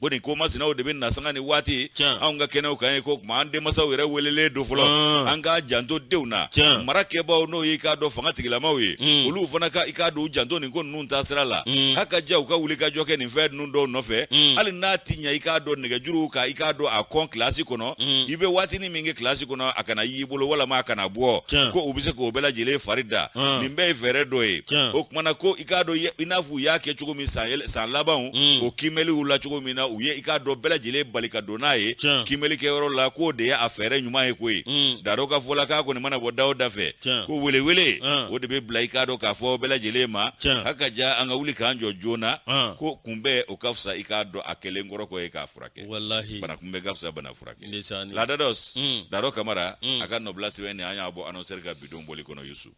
ko nin ko masinaw de bɛ na sanga ni waati anw ka kɛnɛw kan ye ko tuma an denmasaw yɛrɛ welelen don fɔlɔ ah. an k'an janto denw na marakɛbaaw n'o y'i k'a dɔn fanga tigilamaw ye hmm. olu fana ka i k'a dɔn u janto nin ko ninnu ta sira la hmm. haka ja u ka wuli ka jɔ kɛ nin fɛn ninnu dɔw nɔfɛ hmm. hali n'a ti ɲɛ i k'a dɔn nɛgɛjuruw ka i k'a dɔn a kɔn kilasi kɔnɔ i bɛ waatinin min kɛ kilasi kɔnɔ a kana y'i bolo walama a kana bɔ ko u bɛ se k'o bɛɛ lajɛlen fari da ah. nin bɛɛ ye fɛɛrɛ dɔ ye o kuma na ko i k'a dɔn i n'a u y'a kɛ cogo min san yɛlɛ- san labanw Mm. o kiimɛliw la cogo min na u ye i k'a dɔn bɛɛ lajɛlen bali ka don n'a ye Tiɲɛ. kiimɛli kɛyɔrɔ la k'o de ye a fɛɛrɛ ɲuman ye koyi Mm. dadɔ ka fɔ la k'a kɔni mana bɔ da o da fɛ Tiɲɛ. ko welewele Ah. o de bɛ bila i k'a dɔn k'a fɔ bɛɛ lajɛlen ma Tiɲɛ. a ka ja an ka wuli k'an jɔ joona Ah. ko kunbɛn o ka fisa i k'a dɔn a kɛlen kɔrɔ kɔ ye k'a furakɛ walahi bana kunbɛn ka fisa bana furakɛ Ndesaani. la dadɔs Mm. dadɔ kamara Mm. a ka nɔbila sɛbɛn nin an y'a bɔ anɔsɛri ka bi don bɔli kɔnɔ yusu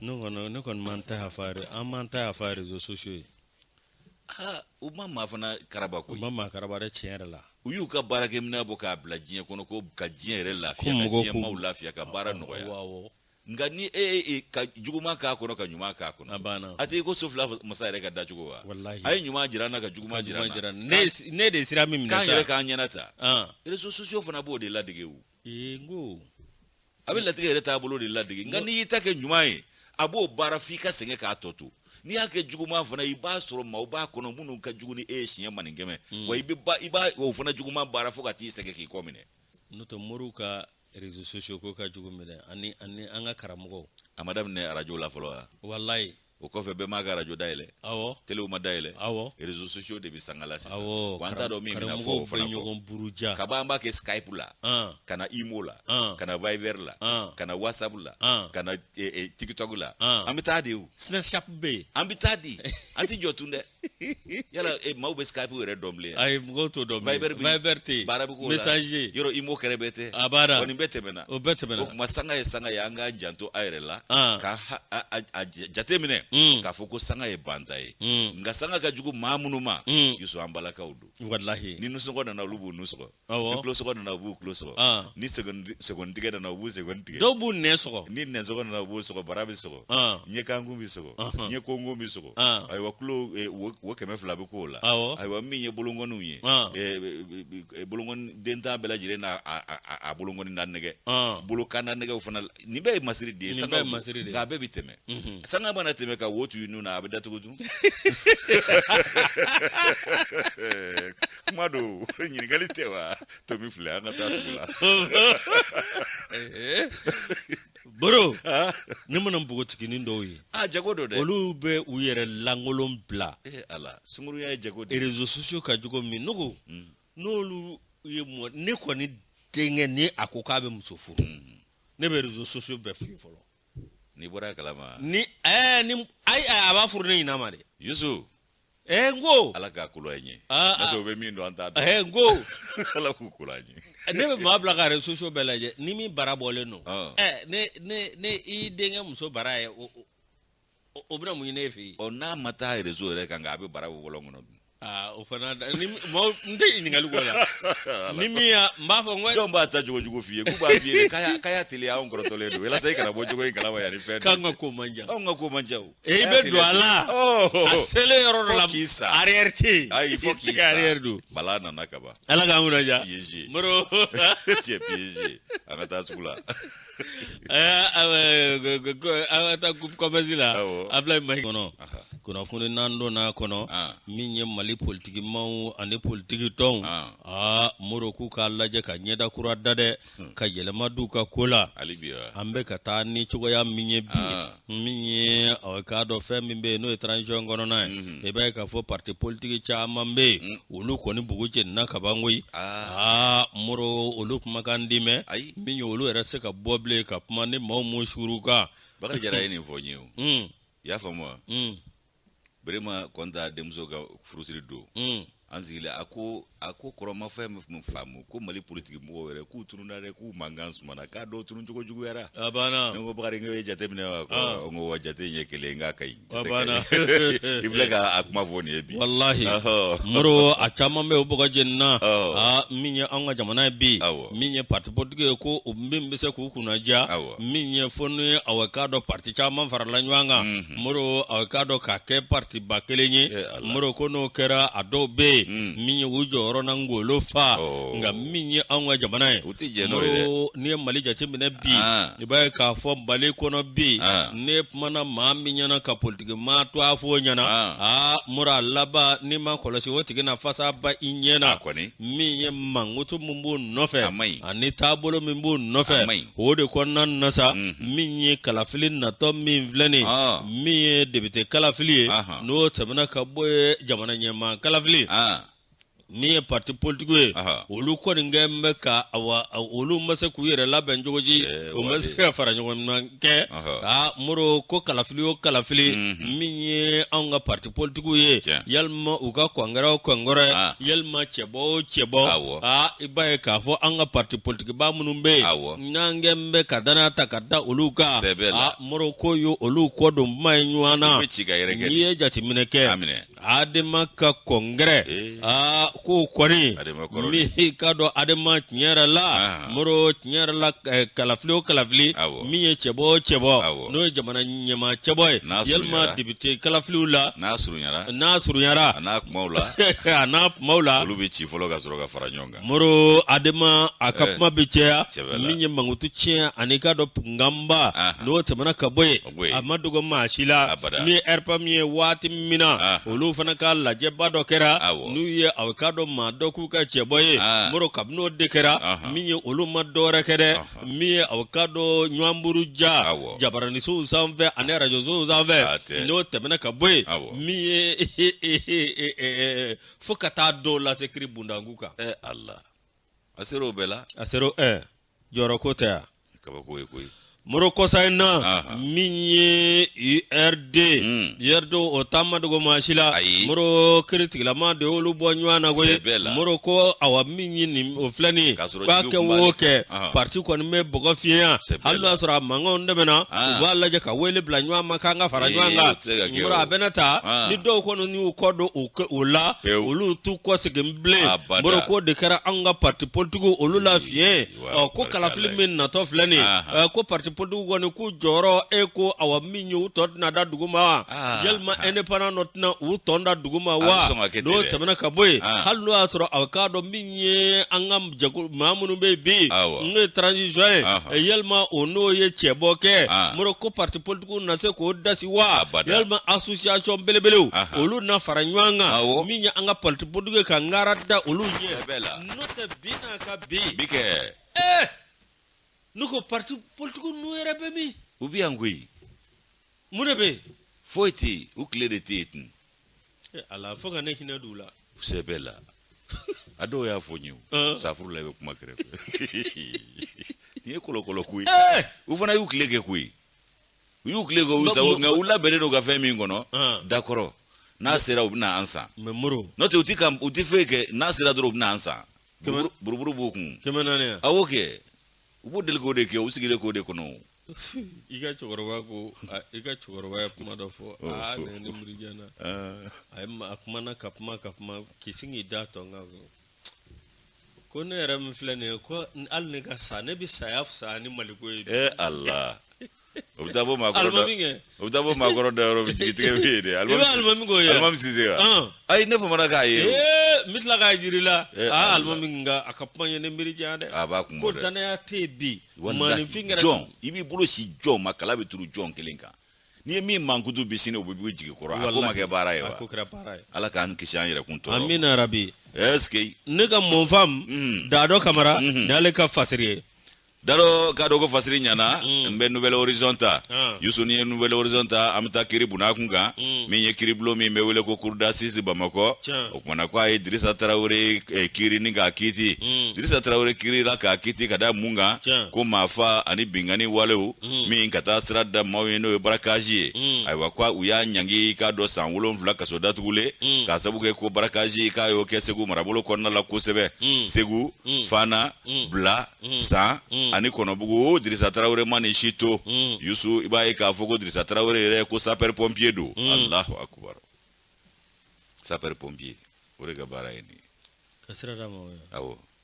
ne kɔni ne kɔni ma n ta yafa an m'an ta yafa rezo sosiyo ye aa u ma maa fana karaba koyi u ma maa karaba dɛ tiɲɛ yɛrɛ la u y'u ka baarakɛminɛn bɔ k'a bila diɲɛ kɔnɔ ko ka diɲɛ yɛrɛ lafiya ka diɲɛ maaw lafiya ka baara nɔgɔya nka ni e ye e, ka juguman k'a kɔnɔ ka ɲuman k'a kɔnɔ a banna a tɛ ko so fila masa yɛrɛ ka dacogo wa walahi a ye ɲuman jira n na ka juguman jira n na ne de sira min minɛ k'an yɛrɛ k'an ɲɛnata rezo sosiyo fana b'o de ladege o ee n ko a bɛ latigɛ yɛrɛ taabolo de ladege nka n'i y'i ta kɛ ɲuman ye a b'o baara f'i ka sɛgɛn k'a tɔ to n'i y'a kɛ juguman fana i b'a sɔrɔ maaw b'a kɔnɔ minnu ka jugu ni e ye siɲɛ maninkɛmɛ hmm. wa i b'a o fana juguman baara fo ka t'i sɛgɛn k'i kɔ minɛ n'o tɛ moriw ka réseaux sociaux ko ka jugu minɛ ani ani an ka karamɔgɔw a ma daminɛ arajo la fɔlɔ wa walayi o kɔfɛ bɛɛ m'a ka arajo dayɛlɛ awɔ telew ma dayɛlɛ awɔ réseaux sociaux de bɛ sanga la sisan awɔ wa an t'a dɔn min bɛna fɔ o fana ɲɔgɔn buruja kaba an b'a kɛ skype la an ka na imo la an ka na viber la an ka na whatsapp la an ka na eh, eh, tiktok la an an bɛ taa di o snapchat bɛ yen an bɛ taa di an tɛ jɔ tun dɛ yala e maaw bɛ skype yɛrɛ dɔn bilen ayi mɔgɔw t'o dɔn bilen viber viber tɛ yen baara bɛ k'o la messenger yɔrɔ imo kɛrɛ bɛɛ tɛ a b'a da kɔni bɛɛ tɛmɛna o bɛɛ tɛmɛna o tuma sanga ye sanga ye an k'an janto an yɛrɛ la ka a jate minɛ k'a fɔ ko sanga ye banta ye nka sanga ka jugu maa minnu ma yusuf an balakaw don walahi ni nunsɔgɔ nana olu b'u nun sɔgɔ Sɔgɔ nana u b'u kulo sɔgɔ ni segin tigɛ nana u b'u segin tigɛ dɔw b'u nɛn sɔgɔ ni nɛnsɔgɔ nana u b'u sɔgɔ bara bɛ sɔgɔ ɲɛkankun bɛ sɔgɔ ɲɛkonkon bɛ sɔgɔ ayiwa kulo wo kɛmɛ fila bɛ k'o la ayiwa min ye bolokɔniw ye bolokɔni den tan bɛɛ lajɛlen n'a bolokɔni na nɛgɛ bolokan na nɛgɛ fana la nin bɛɛ ye masiri de ye nin bɛɛ ye masiri de ye nka a bɛɛ bɛ tɛmɛ mhm. sanga mana tɛmɛ ka wo to i nun na a bɛ datugu dun kuma don ɲininkali tɛ wa tomi filɛ an ka taa sugu la eh, moro ah. ne mana npogotiginin dɔw ye a ah, jago don dɛ olu bɛ u yɛrɛ lankolon bila eh, ala sunguruya ye jago de ye réseaux sociaux ka jogo min nogo mm. n'olu ye mɔ ne kɔni denkɛ ni a ko k'a bɛ muso furu mm-hmm. ne bɛ réseaux sociaux bɛɛ filɛ fɔlɔ n'i bɔra kalama ni ɛɛ ni ayi a b'a furu ne ɲinama de yusu ɛɛ n ko ala k'a kolo an ye ah, ah. parce que o bɛ min dɔn an t'a dɔn ɛɛ n ko ala k'u kolo an ye ne bɛ maa bila ka réseaux sociaux bɛɛ lajɛ ni min bara bɔlen don ah. ɛɛ ne ne ne i denkɛ muso bara ye o o bɛna mun ɲini ne fɛ yen ɔ n'a ma taa réseau yɛrɛ kan nka a bɛ bara bɔ lu kɔnɔ dun aa o fana da ni mɔgɔ n tɛ ɲininkali kɔ la ni min y'a n b'a fɔ n ko jɔn b'a ta jogo jugu f'i ye k'u b'a f'i ye k'a y'a- k'a y'a teliya anw kɔrɔtɔlen don walasa i kana bɔ jogo in kalama yan ni fɛn k'an ka ko man jan anw ka ko man ca o e i bɛ don a la a Oh. selen yɔrɔ dɔ la Fo k'i sa. arrière tɛ yen ayi fo k'i I tɛ ka arrière don bala nana kaban ala k'an kunna diya piégé moro tu es piégé an ka taa sugu la taa kɔmɛsi la abila ma kɔnɔ kunnafoni n'an donna a kɔnɔ min ye mali politiki maaw ani politiki tɔnw aa moro k'u k'a lajɛ ka ɲɛda kura da dɛ ka yɛlɛma don u ka ko la an bɛ ka taa ni cogoya min ye bi min ye ɔ, k'a dɔn fɛn min bɛ yen n'o ye transition kɔnɔna ye Mhm. i b'a ye k'a fɔ parti politique caman bɛ yen olu kɔni bugu jenina ka ban koyi aa moro olu kumakan tɛ mɛn Ayi. min ye olu yɛrɛ tɛ se ka bɔ bilen ka kuma ni maaw ma suuru u kan bakari jara ye nin fɔ n ye o un i y'a faamu wa un berema kɔnta denmuso ka furusiri don mm. an sigilen a ko a ko kɔrɔ n ma fɛn min faamu ko mali politiki mɔgɔw yɛrɛ k'u tununa dɛ k'u mankan sumana k'a dɔw tunun cogo juguyara a banna ne ko bakari n ko i y'a jate minɛ wa ko ah. n ko wa jate in ye kelen k'a ka ɲi a banna i filɛ ka a kuma fɔ nin ye bi walahi moro a caman bɛ o bugu jenina min ye an ka jamana ye bi min ye parti politique ye ko min bɛ se k'u kunna diya min ye fɔ n'u ye aw k'a dɔn pati caman farala ɲɔgɔn kan moro aw k'a dɔn k'a kɛ patiba kelen ye moro ko n'o kɛra a dɔw bɛ yen min ye u jɔyɔrɔ na ngolo fa nka min ye anw ka jamana ye moro n'i ye mali jateminɛ bi i b'a ye k'a fɔ mali kɔnɔ bi ne kumana maa min ɲɛ na ka politiki maa tɔgɔ fɔ o ɲɛ na aa moro a laban n'i ma kɔlɔsi o tigi na fasaba i ɲɛ na kɔni min ye mankutu min b'o nɔfɛ a maɲi ani taabolo min b'o nɔfɛ a maɲi o de kɔnɔna na sa mhm. min ye kalafili natɔ min filɛ nin ah. min ye depite kalafili ye n'o tɛmɛna ka bɔ yen jamana ɲɛmaa kalafili ah. min ye parti politique ye olu kɔni kɛ bɛ ka awa olu ma se k'u yɛrɛ labɛn cogo ji eh, o ma se ka fara ɲɔgɔn kɛ aa moro ko kalafili o kalafili min ye anw ka pati politigiw ye yalima u ka kɔngɛrɛ o kɔngɛrɛ yalima cɛbɔ o cɛbɔ aa i b'a ye k'a fɔ an ka pati politigiba minnu bɛ yen n'an kɛ bɛ ka dannaya ta ka da olu kan moro ko ye olu kɔ don kuma ye ɲɔgɔn na n'i ye jateminɛ kɛ adema ka kɔngɛrɛ eh. aa k'o kɔni min k'a dɔn adema tiɲɛ yɛrɛ la ah. moro tiɲɛ yɛrɛ la eh, kalafili o kalafili min ye cɛbɔ o cɛbɔ n'o ye jamana ɲɛmaa cɛbɔ ye yalima depite kalafiliw la n'a surunyara n'a surunyara a n'a kumaw la a n'a kumaw la olu bɛ ci fɔlɔ ka sɔrɔ ka fara ɲɔgɔn kan moro adema a ka kuma bɛ caya min ye mankutu tiɲɛ ani k'a dɔn nkanba n'o tɛmɛna ka bɔ yen a ma dogo maa si la min ye rpm ye waati min na olu fana ka lajɛba dɔ kɛra n'u ye a k'a dɔn maa dɔ k'u ka cɛbɔ ye moro kabini n'o de kɛra min ye olu ma dɔwɛrɛ kɛ dɛ min ye a k'a dɔn ɲɔgɔn buruja jabaraninsow sanfɛ ani arajosow sanfɛ n'o tɛmɛna ka bɔ yen min ye fo ka taa dɔw lase kiri bundangu kan ɛ ala a sera o bɛɛ la a sera ɛ jɔyɔrɔ ko tɛ yan kabako ye koyi moro kɔsa in na min ye urd urd hmm. o ta ma dogo maa si la moro kiritigɛla maa de y'olu bɔ ɲɔgɔn na koyi moro ko awa min ye nin o filɛ nin ye k'a kɛ o kɛ parti kɔni bɛ bɔgɔ fiɲɛya hali n'a sɔrɔ a mankanw dɛmɛna u b'a lajɛ ka wele bila ɲɔgɔn ma k'an ka fara ɲɔgɔn kan moro a bɛna ta ni dɔw kɔni y'u kɔ don u o la olu t'u kɔsegin bilen moro ko de kɛra an ka pati politigiw olu la fiɲɛ ko kalafili min natɔ filɛ nin ko pati politigiw kɔni k'u jɔyɔrɔ e ko awa min ye u tɔn tɛna da dugu ma yalima indépendant nu tɛna u tɔn da dugu ma wa n'o tɛmɛna ka bɔ yen hali n'o y'a sɔrɔ aw k'a dɔn min ye an ka maa minnu bɛ yen bi n'o ye transition ye yalima o n'o ye cɛbɔ kɛ moro ko pati politigiw dun na se k'o dasi wa Abada. yalima association belebelew Aha. olu na fara ɲɔgɔn kan Awɔ. min ye an ka parti politigi ye ka ngara da olu ɲɛ Bɛɛ bɛ la. n'o tɛ bi n'a ka bi bi kɛ Eh! ne ko parti politiki nu yɛrɛ bɛ min u bɛ yan koyi mun de bɛ yen foyi tɛ yen u tile de tɛ yen tun Eh, ala fo ka ne hinɛ don u la sɛbɛ la a dɔw y'a fɔ n ye o. Ɔn. safuru la i bɛ kuma kɛrɛfɛ nin ye kɔlɔkɔlɔ ko ye Eh! u fana y'u tile kɛ koyi u y'u tile k'u sago nka u labɛnnen don ka fɛn min kɔnɔ dakɔrɔ n'a sera u bɛna an san n'o tɛ u tɛ u tɛ foyi kɛ n'a sera dɔrɔn u bɛna an san buruburu b'u kun kɛmɛ naani a y'o kɛ u b'u deli k'o de kɛ u sigilen k'o de kɔnɔ i ka cɛkɔrɔba ko i ka cɛkɔrɔba ye kuma dɔ fɔ aa ne miiri janya a ye a kumana ka kuma ka kuma k'i sin k'i da tɔ n kan ko ne yɛrɛ min filɛ nin ye ko n- hali ne ka sa ne bɛ saya fisaya ni maliko ye bi. e ala o bɛ taa bɔ maakɔrɔ da alimami kɛ o bɛ taa bɔ maakɔrɔ da yɔrɔ min jigitigɛ bɛ yen dɛ i bɛ alimami k'o ye wa? alimami sise wa Ɔn. ayi ne famana k'a ye o. ee n bɛ tila k'a jiri la Eh, aa Allah. alimami nka a ka kuma ye ne miiri janya dɛ a b'a kun ko bɔ dɛ danaya tɛ yen bi Walahi, maaninfin kɛra jɔn i b'i bolo sin jɔn ma kala bɛ turu jɔn kelen kan n'i ye min mankutu bi sini o bɛ b'i jigi kɔrɔ a ko ma kɛ baara ye wa ala k'an kisi an yɛrɛkun tɔɔrɔ amina rabi est-ce que ne ka mɔnfam mm. daadɔ kamara mm-hmm. n'ale ka fasiri ye dalo ka dɔn ko fasiri ɲana mm. n bɛ nouvelle horizon ta ah. yusu n'i ye nouvelle horizon ta an bɛ taa kiri buna kun kan mm. min ye kiri bulon min bɛ wele ko cour d'assises bamakɔ o kumana ko a ye dirisa tarawele eh, kiri ni k'a kiti dirisa tarawele kirila k'a kiti ka da mun kan ko maafaa ani binkanni walew mm. min ka taa sira da maaw ɲɛ n'o ye barakazi ye mm. ayiwa ko u y'a ɲangi k'a don san wolonfila kaso datugulen mm. k'a sabu kɛ ko barakazi k'a y'o kɛ segu marabolo kɔnɔna la kosɛbɛ mm. segu mm. fana mm. bila mm. san mm. ani kɔnɔbugu dirisa tarawele ma nin si to mm. yusu i b'a ye k'a fɔ ko dirisa tarawele yɛrɛ ko sapɛri pɔnpiye don mm. alahu akubar sapɛri pɔnpiye o de ka baara ye nin ye ka sira da maaw ɲɛ awɔ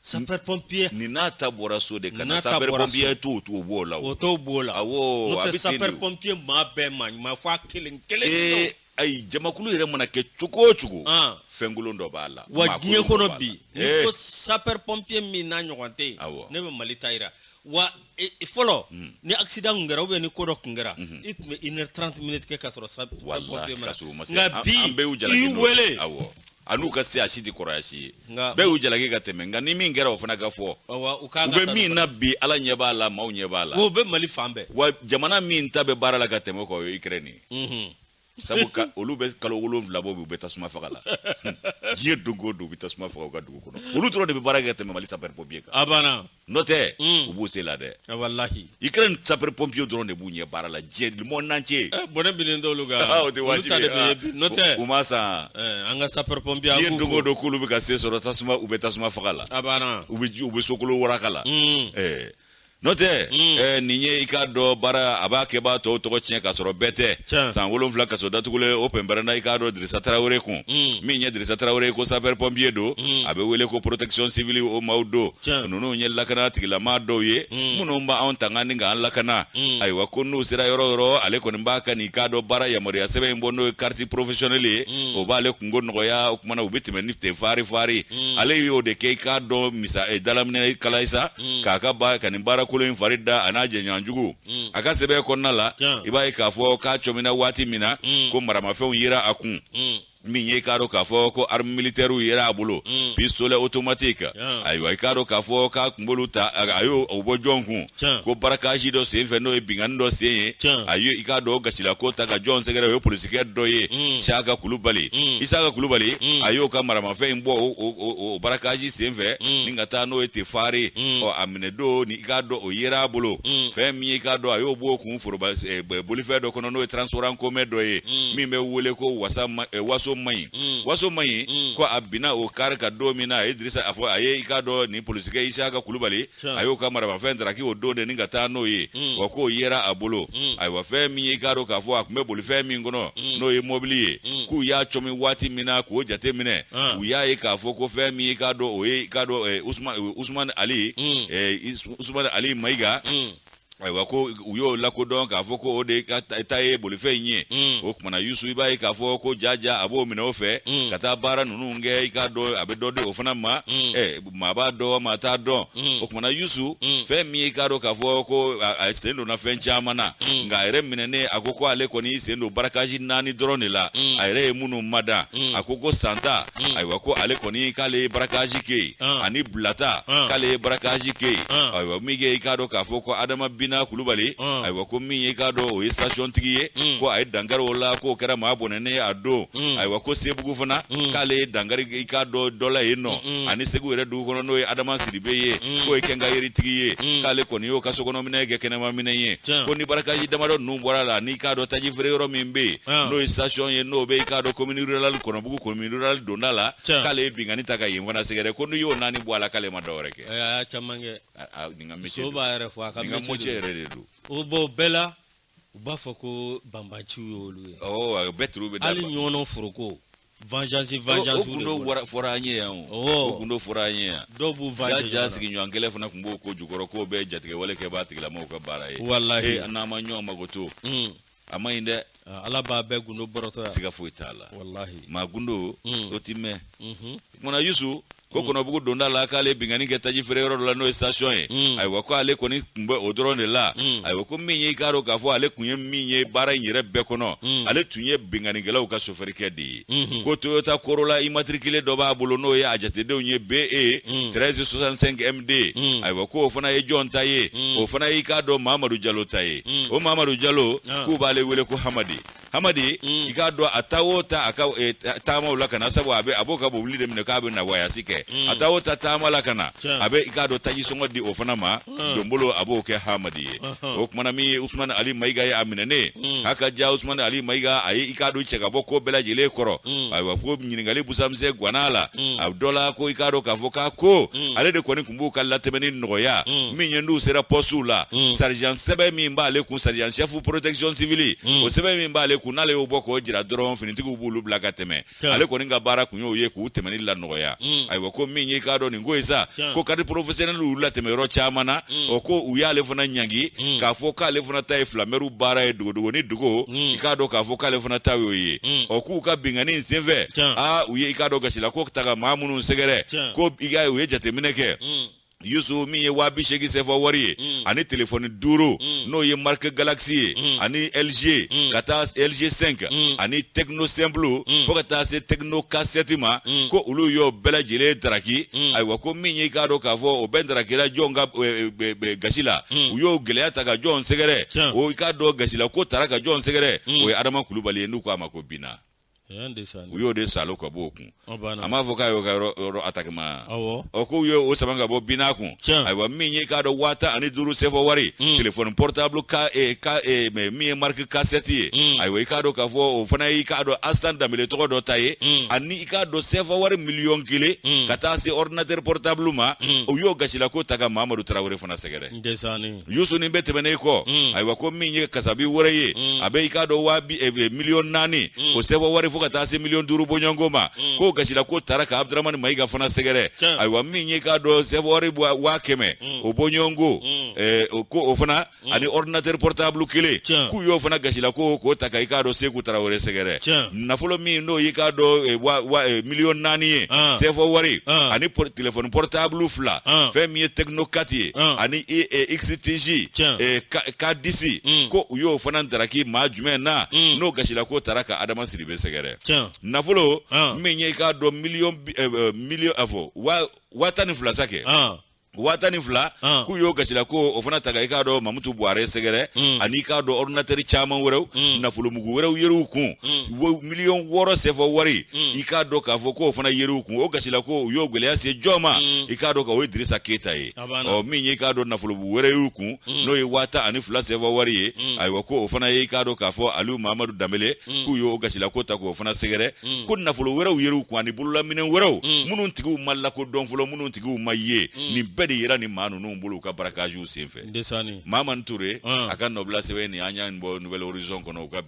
sapeur pompier nin n'a ta bɔra so de ka na sapeur pompier t'o t'o b'o la o t'o b'o la awɔ a bɛ ten de o n'o tɛ sapeur pompier maa bɛɛ maa ɲuman fo a kelen kelen ee ayi jamakulu yɛrɛ mana kɛ cogo o cogo fɛnkolon dɔ b'a la wa diɲɛ kɔnɔ bi n'i ko sapeur pompier min n'a ɲɔgɔn tɛ yen ne bɛ mali ta jira wa fɔlɔ ni accident tun kɛra ou bien ni ko dɔ tun kɛra i tun bɛ une heure trente minutes kɛ ka sɔrɔ sabu wele an'u ka se asi di kɔrɔsi ye nka bɛɛ y'u jalaki ka tɛmɛ nka ni min kɛra o fana ka fɔ u bɛ min na bi ala ɲɛ b'a la maaw ɲɛ b'a la o bɛ mali fan bɛɛ wa jamana min ta bɛ baara la ka tɛmɛ o kan o ye ukraine nin ye sabu ka olu bɛ kalo wolonwula bɔ u bɛ tasuma faga la diɲɛ don o don u bɛ tasuma faga u ka dugu kɔnɔ olu dɔrɔn de bɛ baara kɛ tɛmɛ mali sapɛri pɔpiye kan a banna n'o tɛ mm. u b'u se la dɛ walahi ukraine sapɛri pɔpiye dɔrɔn de b'u ɲɛ baara la diɲɛ le monde entier eh, bɔnɛ binnen t'olu kan ah, o tɛ wajibi ye ah. n'o tɛ u man fisa eh, an ka sapɛri pɔpiye diɲɛ don o don k'olu bɛ ka se sɔrɔ tasuma u bɛ tasuma faga la a banna u bɛ sokolo waraka la mm. eh. n'o tɛ mm. eh, nin ye i k'a dɔn baara a b'a kɛbaa tɔw tɔgɔ tiɲɛ k'a sɔrɔ bɛɛ tɛ san wolonfila kaso datugulen o pɛnpɛrɛnna i k'a dɔn dirisa tarawele kun mm. min ye dirisa tarawele ko sapɛr pɔnpiye don mm. a bɛ wele ko protection civile o maaw don ninnu ye lakana tigilama dɔw ye minnu b'anw tanga ni k'an lakana ayiwa ko n'u sera yɔrɔ yɔrɔ ale kɔni b'a ka nin k'a dɔn baara yamaruya sɛbɛn in bɔ n'o ye kariti porofesiyɔnɛli ye o b'ale kunko nɔgɔya o kuma na u bɛ tɛmɛ ni ten faari faari ale y'o de kɛ i k'a dɔn misa eh, dalaminɛ kala sa mm. k'a ka ba ka nin baara kolon in fari da a n'a jɛɲɔgɔn jugu mm. a ka sɛbɛn kɔnɔna la i b'a ye k'a fɔ k'a cɔmina waati min na mm. ko maramafɛnw yera a kun mm. min ye i k'a dɔn k'a fɔ ko arme militɛriw yera a bolo mm. pistolet automatique yeah. ayiwa i k'a dɔn k'a fɔ k'a kun b'olu ta a y'o o bɔ jɔn kun yeah. ko barakasi dɔ sen fɛ n'o ye binkanni dɔ sen ye yeah. a ye i k'a dɔn o gasilako ta ka jɔn sɛgɛrɛ o ye polisikɛ dɔ ye mm. siyaka kulubali mm. isaka kulubali mm. a y'o ka maramafɛn in bɔ o, o, o o barakaji senfɛ mm. ni ka taa n'o ye te fari mm. ɔ a minɛ don ni i k'a dɔn o yera a bolo mm. fɛn min ye i k'a dɔn a y'o b'o kun foroba eh, bolifɛn dɔ kɔnɔ n'o ye transport en commun dɔ ye mm. min bɛ wele ko wasa ma, eh, waso man ɲi mm. waso man ɲi mm. ko a binna o kari kan don min na a ye dirisa a fɔ a ye i k'a dɔn nin polisikɛ isaka kulubali a y'o ka maramafɛn taraki o don de ni ka taa n'o ye mm. wa k'o yera a bolo mm. ayiwa fɛn min ye k'a dɔn k'a fɔ a tun bɛ bolifɛn min kɔnɔ mm. n'o ye mɔbili ye k'u y'a cɔmi waati min na k'o jate minɛ ah. u y'a ye k'a fɔ ko fɛn min ye k'a dɔn o ye k'a dɔn eh, usumani ali eh, usumani ali mayiga ayiwa ko u y'o lakodɔn k'a fɔ ko o de ka ta ye bolifɛn in ye Mm. o kuma na yusu i b'a ye k'a fɔ ko jaja a b'o minɛ o fɛ Mm. ka taa baara ninnu kɛ i k'a dɔn a bɛ dɔ di o fana ma Mm. ɛ maa b'a dɔn maa t'a dɔn Mm. o kuma na yusu Mm. fɛn min ye i k'a dɔn k'a fɔ ko a a sen donna fɛn caman na Mm. nka a yɛrɛ minɛnen a ko ko ale kɔni y'i sen don barakazi naani dɔrɔn de la Mm. a yɛrɛ ye minnu madan Mm. a ko ko santa Mm. ayiwa ko ale kɔni k'ale ye barakazi kɛ yen Ah. ani bulata Ah. k'ale ye barakazi kɛ yen Ah. ayiwa min ye i k'a dɔn k'a fɔ ko adama bina kulubali Ah. ayiwa ko min ye i k'a dɔn o ye sasiyɔntigi ye Mm. ko a ye dankari o la k'o kɛra maa bɔnɛnen ye a don Mm. ayiwa ko sebugu fana Mm. k'ale ye dankari i k'a dɔn dɔ la yen nɔ Mm. ani segu yɛrɛ dugu kɔnɔ n'o ye adama sidibe ye Mm. k'o ye kɛnkayeritigi ye Mm. k'ale kɔni y'o ka sokɔnɔminɛ kɛ kɛnɛmaminɛ ye Tiɲɛ. ko ni barakazi damadɔ ninnu bɔra a la n'i k'a dɔn taji feere yɔrɔ min bɛ yen Ah. n'o ye sasiyɔn ye n'o bɛ i k'a dɔn komini rurali kɔnɔ bugu komini rural donda la Tiɲɛ. k'ale ye binkanni ta ka yen fana sɛgɛrɛ ko n'i y'o naani bɔ a la k'ale ma dɔwɛrɛ kɛ Ɛ, a y'a caman kɛ A- a- nin ka métier so don. b'a yɛrɛ fɔ a ka nin ka métier mɔcɛ don. yɛrɛ de don o bɔ bɛɛ la u b'a fɔ ko banbaanciw y'olu ye ɔ bɛɛ turu bɛ da hali ɲɔgɔnɔ foroko vengeance o vengeance o gundo wara- fɔra an ye yan o Ɔwɔ. o gundo fɔra an ye yan dɔw b'u ja vengeance ja sigiɲɔgɔn kelen fana tun b'o ko jukɔrɔ k'o bɛɛ ye jatigɛwale kɛbaa tigilamɔgɔw ka baara ye Walahi. Eh, n'an ma ɲɔgɔn mago to Mm. a ma ɲi dɛ Ah, ala b'a bɛɛ gundo bɔrɔtɔ yan siga foyi t'a la walahi maa gundo Mm. o ti mɛɛn Mhm. tuma na yusu ko kɔnɔbugu donda la k'ale binkanni kɛ taji feere yɔrɔ dɔ la n'o ye station ye Mm. ayiwa ko ale kɔni tun bɛ o dɔrɔn de la Mm. ayiwa ko min ye i k'a dɔn k'a fɔ ale tun ye min ye baara in yɛrɛ bɛɛ kɔnɔ Mm. ale tun ye binkannikɛlaw ka sofɛrikɛ de ye mhm. ko toyota corolla immatriculé dɔ b'a bolo n'o ye a jatedenw ye be 1365 mhm. md mhm. ayiwa ko o fana ye jɔn ta ye o fana y'i k'a dɔn mamadu jalo ta ye o mamadu jalo ah. k'u b'ale wele ko hamadi hamadi mm. i k'a dɔn a taa o taa a ka e, taamaw la ka na sabu a bɛ a b'o ka bobili de minɛ k'a bɛ na wayasi kɛ mm. a taa o taa taama la ka na a bɛ i k'a dɔn taji sɔngɔ di o fana ma donbolo a b'o kɛ hamadi ye o tuma na min ye usumani ali mayiga ye a minɛnen a ka ja usumani ali mayiga a ye i k'a dɔn i cɛ ka bɔ ko bɛɛ lajɛlen kɔrɔ ayiwa ko ɲininkali busamisɛn gwanna a la a dɔ la ko i k'a dɔn k'a fɔ k'a ko ale de kɔni tun b'u ka latɛmɛni nɔgɔya min ye n'u sera pɔsiw la sergent sɛbɛn min b'ale kun sergent chef protection civile o sɛbɛn min b'ale kun n'ale y'o bɔ k'o jira dɔrɔn finitigiw b'olu bila ka tɛmɛ ale kɔni ka baara tun y'o ye k'u tɛmɛni lanɔgɔya mm. ayiwa ko min y'i k'a dɔn nin ko ye sa ko carte professionnelle y'u latɛmɛ yɔrɔ caman na mm. o ko u y'ale fana ɲangi mm. k'a fɔ k'ale fana ta ye filamɛriw baara ye dogodogo ni dogo i k'a dɔn k'a fɔ k'ale fana ta y'o ye ɔ k'u ka binkanni in senfɛ aa u ye i k'a dɔn gasila ko ta ka maa minnu sɛgɛrɛ ko i k'a ye u ye jateminɛ kɛ yusu min ye waa bi seegin sefa wari ye mm. ani telefɔni duuru mm. n'o ye marque galaxy ye mm. ani lg ka taa lg 5 ani tecno simple fo ka taa se tecno k7 ma ko olu y'o bɛɛ lajɛlen daraki ayiwa ko min y'i k'a dɔn k'a fɔ o bɛɛ darakira jɔn ka eh, eh, eh, gasi la u y'o gɛlɛya ta ka jɔn sɛgɛrɛ o i k'a dɔn gasila ko tara ka jɔn sɛgɛrɛ o ye adama kulubali ye n'u ko a ma ko bina u y'o de sama ka bɔ o kun a m'a fɔ k'a y'o yɔrɔ attaque ma ɔ k'u ye o sama ka bɔ bina kun ayiwa min y'i k'a dɔn waa tan ani duuru sefa wari hmm. téléphone portable e, e, min ye marque k7 ye hmm. ayiwa i k'a dɔn k'a fɔ o fana y'i k'a dɔn asitan danbɛlɛ tɔgɔ dɔ ta ye hmm. ani i k'a dɔn sefa wari miliyɔn kelen ka taa se ordinateur portable ma u y'o gasila ko ta ka mamadu tarawele fana sɛgɛrɛ ndesanni yusu nin bɛɛ tɛmɛnen kɔ mm. ayiwa ko min ye kasabi wɛrɛ ye mm. a bɛ i k'a dɔn waa eh, eh, miliyɔn naani mm. o sefa wari fo ka taa se miliyɔn duuru bɔɲɔgɔnko ma k'o gasila ko tara ka abudramani mayiga fana sɛgɛrɛ ayiwa min y'i k'a dɔn sefa wari waa kɛmɛ o bɔɲɔgɔnko eh, ko o fana ani ordinateur portable kelen k'u y'o fana gasila ko k'o ta ka i k'a dɔn seku tarawele sɛgɛrɛ nafolo min n'o y'i k'a dɔn miliyɔn naani ye ah. sefa wari ah. ani telefɔni portable fila ah. fɛn min ye tecno quatre ye ah. ani e, e, x-tigi e, k dix hmm. ko u y'o fana daraki maa jumɛn na hmm. n'o gasila k'o taara ka adama sidibe sɛgɛrɛ nafolo ah. min ye i k'a dɔn miliyɔn miliyɔn a fɔ waa tan ni fila sa kɛ waa tan ni fila ah. k'u y'o gasila ko o fana ta ka i k'a dɔn mamutu buwarɛ sɛgɛrɛ hmm. ani i k'a dɔn ordinatɛri caman wɛrɛw hmm. nafolomugu wɛrɛw yer'u kun hmm. miliyɔn wɔɔrɔ sɛfa wari mm. i k'a dɔn k'a fɔ k'o fana yer'u kun o gasila ko u y'o gɛlɛya se jɔn ma mm. i k'a dɔn k'o ye dirisa keyita ye ɔ min ye k'a dɔn nafolomugu wɛrɛ y'u kun mm. n'o ye waa tan ni fila sɛfa wari ye ayiwa ko o fana ye k'a dɔn k'a fɔ ali mamadu danbele k'u y'o gasila ko ta k'o fana sɛgɛrɛ ko nafolo wɛrɛw yer'u kun ani bololaminɛ wɛrɛw minnu tigiw ma lakodɔn fɔlɔ minnu tigiw ma ye nin bɛɛ de yera ni maa ninnu bolo u ka barakaziw senfɛ mamani ture a ka nɔbila sɛbɛn nin an y'a bɔ nfɛzson kɔnɔ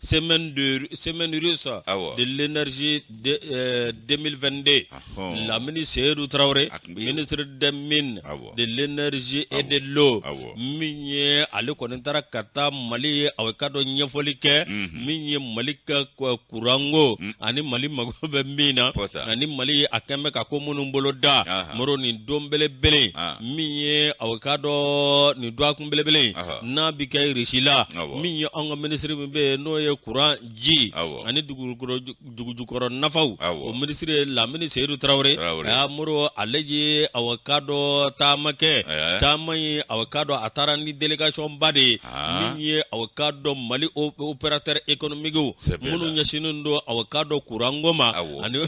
semaine de semaine russe Awa. de l'énergie de, euh, 2022 Ahon. Lamini Seydou Traoré Ak mbi- ministre des mines Awa. de l'énergie et de l'eau Awa. min ye ale kɔni taara ka taa mali ye aw k'a dɔn ɲɛfɔli kɛ min ye mali ka k- kuranko ani mali mago bɛ min na Kɔta. ani mali ye a kɛn bɛ ka ko minnu bolo da Aha. moro nin don belebele Ah. min ye aw k'a dɔn nin dɔgɔkun belebele Aha. n'a bɛ kɛ irisi la Awa. min ye an ka minisiri min bɛ yen n'o ye kuran ji ani dugujukɔrɔ nafaw o minisiri ye lamini seyidu tarawele a moro ale ye aw k'a dɔn taama kɛ taama ye aw k'a dɔn a taara ni délégation ba de ye min ye aw k'a dɔn mali opérateurs économiques minnu ɲɛsinnen don aw k'a dɔn kuranko ma ani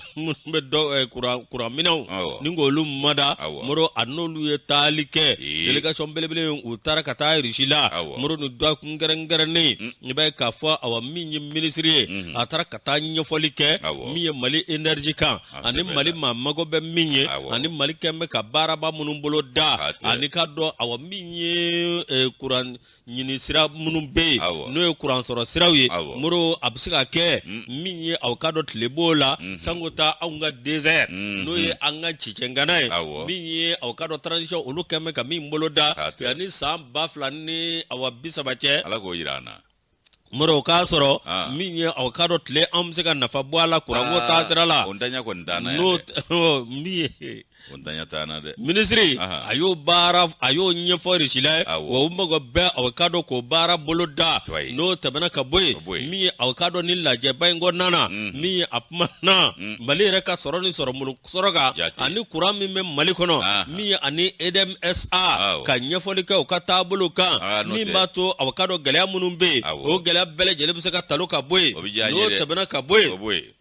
n bɛ dɔ eh, kuran kuran minɛnw Awɔ. ni k'olu mada Awɔ. moro a n'olu ye taali kɛ Ee. delegation belebele in u taara ka taa irisi la Awɔ. moro ni dɔgɔkun kɛrɛnkɛrɛnnen i b'a ye k'a fɔ awa min ye minisiri ye a taara ka taa ɲɛfɔli kɛ Awɔ. min ye mali enerji kan A ani sɛbɛnna. mali maa mago bɛ min ye Awɔ. ani mali kɛn bɛ ka baaraba minnu bolo da K'a tɛ. ani k'a dɔn awa min ye eh, kuran ɲini sira minnu bɛ yen n'o ye kuransɔrɔ siraw ye moro a bɛ se ka kɛ min ye aw k'a dɔn tile b'o la mm. sanko taa anw ka désert mm. n'o ye an ka cicɛngana ye min ye aw k'a dɔn transition olu kɛn bɛ ka min bolo da yanni san ba fila ni awa bi saba cɛ ala k'o jira an na moro k'a sɔrɔ ah. min ye aw k'a dɔn tile an bɛ se ka nafa bɔ a la kuranko ah, taasira la n'o min ye o ntanya t'an na dɛ minisiri Aha. a y'o baara a y'o ɲɛfɔ irisi la yen Awɔ. wa u mago bɛ aw k'a dɔn k'o baara bolo da Wayi. n'o tɛmɛna ka bɔ Ka bɔ yen yen. min ye aw k'a dɔn ni lajɛba in kɔnɔna na min ye a kuma na mali yɛrɛ ka sɔrɔ ni sɔrɔ moro sɔrɔ kan Jate. ani kuran min bɛ mali kɔnɔ Aha. min ye ani edmsa Awɔ. ka ɲɛfɔli kɛ u ka taabolo kan Ah, n'o min tɛ. b'a to aw k'a dɔn gɛlɛya minnu bɛ yen Awɔ. o gɛlɛya bɛɛ lajɛlen bɛ se ka talo ka bɔ yen O bɛ diya an ye n'o dɛ. tɛmɛna ka bɔ yen o b'o ye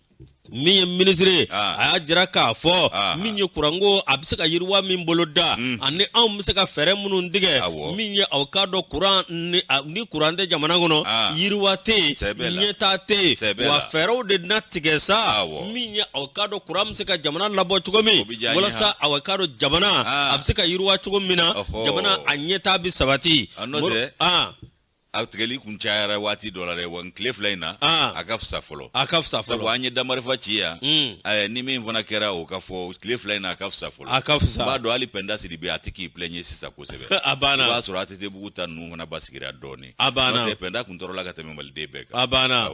min ye minisiri ye ah. a y'a jira k'a fɔ ah. min ye kuranko a bɛ se ka yiriwa min bolo da hmm. ani anw bɛ se ka fɛɛrɛ minnu tigɛ min ye aw k'a dɔn kuran ni kuran tɛ jamana kɔnɔ ah. yiriwa tɛ yen ɲɛtaa tɛ yen wa fɛɛrɛw de na tigɛ sa min ye aw k'a dɔn kuran bɛ se ka jamana labɔ cogo min walasa aw k'a dɔn jamana a bɛ se ka yiriwa cogo min na jamana a ɲɛtaa bɛ sabati. a tigɛli kun cayara waati dɔ la dɛ wa tile fila in na ah. a ka fisa fɔlɔ a ka fisa fɔlɔ sabu an ye damarifa ci yan hmm. ni min fana kɛra o k'a fɔ tile fila in na a ka fisa fɔlɔ a ka fisa b'a dɔn hali pɛnda siri bi a tɛ k'i plɛɲe sisan kosɛbɛ a banna i b'a sɔrɔ ATT bugu ta ninnu fana basigira dɔɔni a banna n'o tɛ pɛnda kun tɔɔrɔla ka tɛmɛ maliden bɛɛ kan a banna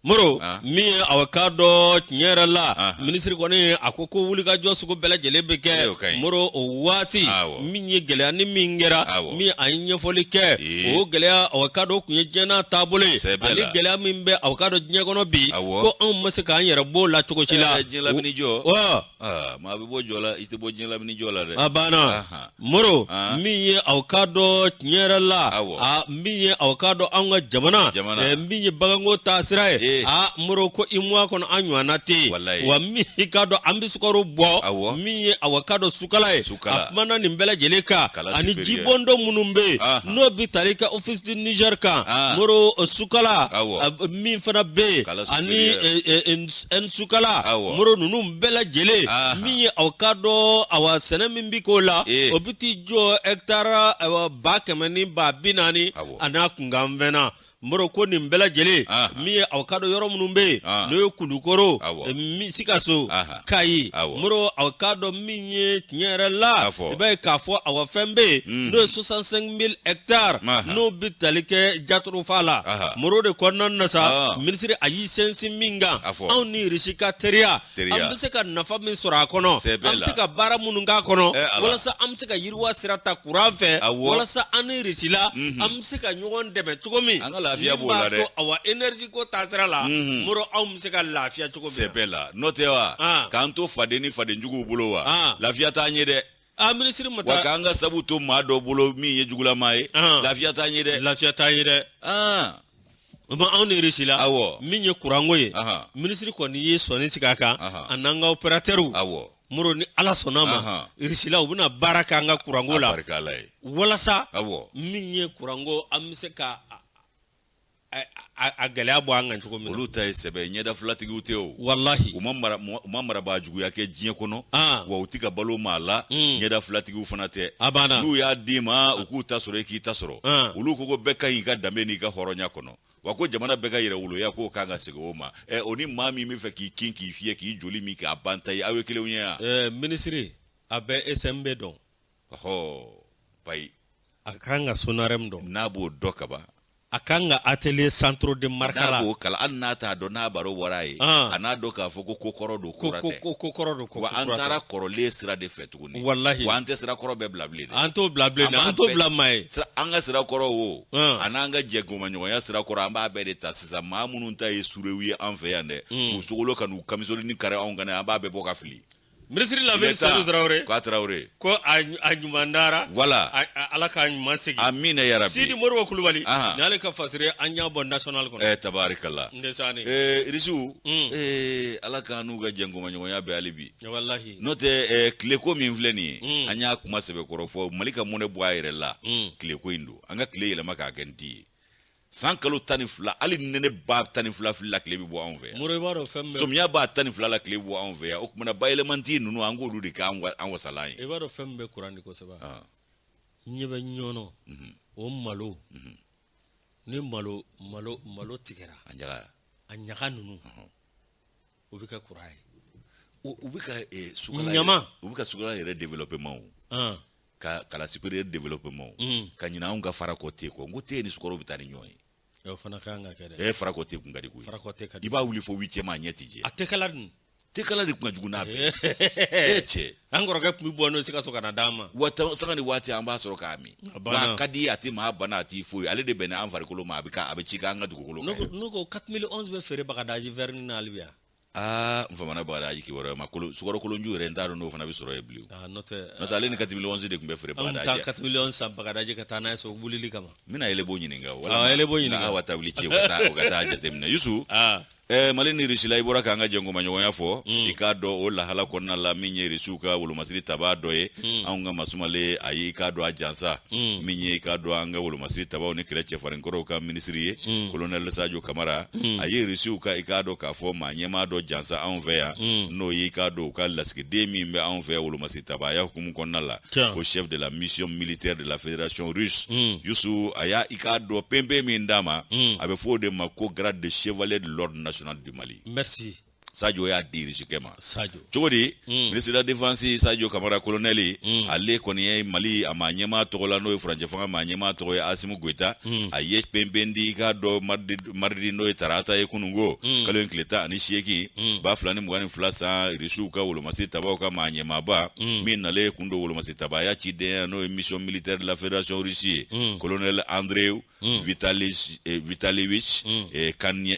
moro ah. min ye aw k'a dɔn tiɲɛ yɛrɛ la ah, ah. minisiri kɔni a ko ko wulikajɔ sugu bɛɛ lajɛlen bɛ kɛ moro o waati min ye gɛlɛya ni min kɛra min a ye ɲɛfɔli kɛ o gɛlɛya aw k'a dɔn kun ye diɲɛna taabolo ye ani gɛlɛya min bɛ aw k'a dɔn diɲɛ kɔnɔ bi ko anw ma se k'an yɛrɛ b'o la cogo si la eh, aa maa bɛ bɔ jɔ la i tɛ bɔ diɲɛ lamini jɔ la dɛ a banna Aha. moro Ah. min ye aw k'a dɔn tiɲɛ yɛrɛ la Awɔ. a min ye aw k'a dɔn anw ka jamana Jamana. eh, min ye baganko taasira ye Eh. a moro ko UEMOA kɔnɔ an ɲɔgɔnna tɛ yen Walayi. wa min i k'a dɔn an bɛ sukaro bɔ Awɔ. min ye aw k'a dɔn sukala ye Sukala. a kumana nin bɛɛ lajɛlen kan Kala ani superieur. jibondon minnu bɛ yen Aha. n'o bɛ tali kɛ office du niger kan Ah. moro eh, sukala Awɔ. a- min fana bɛ yen Kala ani superieur. eh, eh, eh, n sukala Awɔ. moro ninnu bɛɛ lajɛlen Aha. min ye aw k'a dɔn awa sɛnɛ min bi k'o la Ee. o bi t'i jɔ hɛkitari awa, ba kɛmɛ ni ba bi naani Awɔ. a n'a kunkanfɛn na moro ko nin bɛɛ lajɛlen Aha. min ye aw k'a dɔn yɔrɔ minnu bɛ yen Ah. n'o ye kulukoro Awɔ. eh, mi- sikaso Aha. kayi Awɔ. moro aw k'a dɔn min ye tiɲɛ yɛrɛ la i b'a ye k'a fɔ awa fɛn bɛ yen n'o ye soixante-cinq mille ɛkitari n'o bɛ tali kɛ jatorofa la moro de kɔnɔna na sa minisiri a y'i sinsin min kan anw ni irisi ka teriya an bɛ se ka nafa min sɔrɔ a kɔnɔ an bɛ se ka baara minnu k'a kɔnɔ walasa an bɛ se ka yiriwa sira ta kuran fɛ walasa an ni irisila an bɛ se ka ɲɔgɔn dɛmɛ cogo min an ka lafiya b'o la dɛ awa eneriji ko taasira la moro anw bɛ se ka lafiya cogo min sɛbɛ la n'o tɛ wa ah. k'an to faden ni fadenjuguw bolo wa ah. lafiya t'an ye dɛ a ah, minisiri ma taa wa k'an ka sabu to maa dɔ bolo min ye jugulama ye lafiya t'an ye dɛ lafiya t'an ye dɛ ma anw ni irisila awɔ min ye kuranko ye minisiri kɔni ye sɔnni sigi a kan a n'an ka operatɛriw awɔ moro ni ala sɔnna a ma irisila u bɛna baara k'an ka kuranko la walasa min ye kuranko an bɛ se ka a gɛlɛya bɔ an kan cogo min olu ta ye sɛbɛ ɲɛda filatigiw tɛ o walahi u ma marabaa juguya kɛ diɲɛ kɔnɔ ah. wa u tɛ ka balo maa la mm. ɲɛda filatigiw fana tɛ a banna n'u y'a d'i ma u k'u ta sɔrɔ i k'i ta sɔrɔ ah. olu ko ko bɛɛ ka ɲi i ka danbe n'i ka hɔrɔnya kɔnɔ wa ko jamana bɛɛ ka yɛrɛwoloya k'o kan ka segin o ma ɛ o ni maa min bɛ fɛ k'i kin k'i fiyɛ k'i joli min k'a ban ta ye aw ye kelenw ye yan minisiri a bɛ smb dɔn bayi a ka kan ka sonarɛmu dɔn n'a b'o dɔ kaban a ka kan ka atelier centre de Markala n'a b'o kalama hali n'a t'a dɔn n'a baro bɔra ye a n'a dɔn k'a fɔ ko ko kɔrɔ don kura tɛ ko ko kɔrɔ don ko wa an taara kɔrɔlen sira de fɛ tuguni walahi wa an tɛ sira kɔrɔ bɛɛ bila bilen dɛ an t'o bila bilen dɛ an t'o bila maa ye an ka sira kɔrɔ wo a n'an ka jɛnkomaɲɔgɔnya sira kɔrɔ an b'a bɛɛ de ta sisan maa minnu ta ye surew ye an fɛ yan dɛ k'u sogolo ka n'u kamisoli ni kari anw kan an b'a bɛɛ bɔ ka fili minisiri lamini seyidu tarawele k'a tarawele ko a ɲuman dara voilà ala k'a ɲuman segin amina yarabi sidi modibo kulubali ni ale ka fasire an y'a bɔ national kɔnɔ eh tabarikala ndesani eh irisiw mm. eh ala k'an n'u ka jɛnkomaɲɔgɔnya bɛɛ hali bi walahi n'o tɛ eh, tileko min filɛ nin ye mm. an y'a kuma sɛbɛkɔrɔ fɔ mali ka mɔnɛ bɔ a yɛrɛ la mm. tileko in don an ka tile yɛlɛma k'a kɛ nti ye san kalo tan ni fila hali nɛnɛba tan ni fila la tile bɛ bɔ anw fɛ yan somiyaba tan ni fila la tile bɛ bɔ anw fɛ yan o tuma na bayɛlɛmanti ninnu an k'olu de kɛ an wasalan ye i b'a dɔn fɛn min bɛ kuran di kosɛbɛ ah. ɲɛ bɛ ɲɔnɔ mhm. o malo mhm. ni malo malo malo tigɛra a ɲaga ninnu O bɛ kɛ kuran ye u bɛ ka su ɲama u bɛ ka sukala yɛrɛ développement ka kala supérieur développement ka ɲina anw ka farako te kɔ n ko te ni sukaro bɛ taa ni ɲɔgɔn ye o fana ka kan ka kɛ dɛ farako te kun ka di koyi i b'a wuli fo huitième a ɲɛ tɛ jɛ a te kala dun te kala de kun ka jugu n'a bɛɛ cɛ an kɔrɔkɛ tun bɛ bɔ n'o sikaso ka na d'an ma wa sanga ni waati an b'a sɔrɔ k'a min wa a ka di a tɛ maa bana a t'i foyi ale de bɛnna an farikolo ma a bɛ ka a bɛ cik'an ka dugukolo kan n ko 4011 bɛ feere bagadaji vɛrini na hali bi yan aa n famana bagadaji kibaruya ma kolo sukaro kolonju yɛrɛ n t'a dɔn n'o fana bɛ sɔrɔ yen bilen n'o tɛ n'o tɛ ale ni 4011 de tun bɛ feere bagadaji an bɛ taa 4011 san bagadaji ka taa n'a ye so wulili kama n bɛna yɛlɛbo ɲininka wala yɛlɛbo ɲininka awa tabili ci ka taa o ka taa jateminɛ yusu Eh, mali ni risila i bɔra k'an ka jɛnkomaɲɔgɔnya fɔ hmm. i k'a dɔn o lahala kɔnɔna la min ye risiw ka wolomasiri tabaa dɔ ye hmm. anw ka maa sumalen a ye i k'a dɔn a jansa hmm. min ye i k'a dɔn an ka wolomasiri tabaw ni kɛlɛcɛ farin kɔrɔw ka minisiri ye kolonɛl sajo kamara a ye risiw ka i k'a dɔn k'a fɔ maa ɲɛmaa dɔ jansa anw fɛ yan n'o ye i k'a dɔn u ka lasigiden min bɛ anw fɛ wolomasiri tabaya hukumu kɔnɔna la ko chef de la mission militaire de la fédération russe yusu a y'a k'a dɔn penpen min d'a ma hmm. a bɛ fɔ o de ma ko grade de chevalier de l'ordre national du mali sajo y'a di risikɛ ma cogo di hmm. ministre de la défense sajo kamara kolonɛli hmm. ale kɔni ye mali a maa ɲɛmaa tɔgɔ la n'o ye furancɛ fanga maa ɲɛmaa tɔgɔ ye asimi goita a ye penpen di i k'a dɔn mardi maridi n'o ye tarata ye kununko mm. kalo in tile tan ani seegin mm. ba fila ni mugan ni fila san irisiw ka wolomasi tabaw ka maa ɲɛmaaba mm. min nalen kun don wolomasi tabaya cidenya n'o ye mission militaire de la fédération russie ye mm. colonel andrei mm. vitalis eh, vitalievich mm. eh,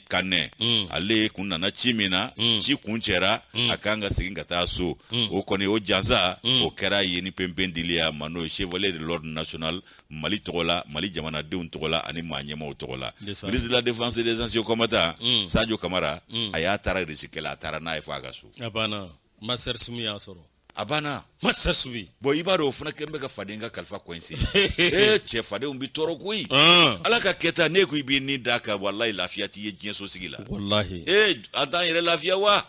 kanɛ mm. ale kun nana ci min na mm. ci kun cɛra mm. a kan ka segin ka taa so mm. o kɔni o jansa mm. o kɛra ye ni penpen dili a ma n'o ye chevalier de l'ordre national mali tɔgɔ la mali jamanadenw tɔgɔ la ani maa ɲɛmaw tɔgɔ la ministre de la défense et des anciens combattants mm. sadio kamara mm. a y'a tara risikɛ la a taara n'a ye fo a ka so a banna master sumi y'a sɔrɔ a banna master sumi bon i b'a dɔn o fana kɛlen bɛ ka faden ka kalifa coincé ee cɛ fadenw bi tɔɔrɔ koyi ah. ala ka kɛta ne ko i b'i ni d'a kan walayi lafiya t'i ye diɲɛ so sigi la walayi ee an t'an yɛrɛ lafiya wa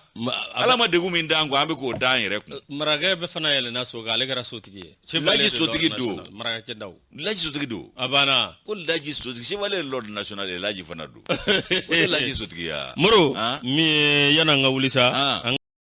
ala ma degun min d'an kun an bɛ k'o d'an yɛrɛ kun marakɛ bɛ fana yɛlɛnna so kan ale kɛra sotigi ye laji sotigi don marakɛ daw laji sotigi don a banna ko laji sotigi chevalier l'ordre national ye laji fana don o ye laji sotigi ya moro min ye yan'an ka wuli sa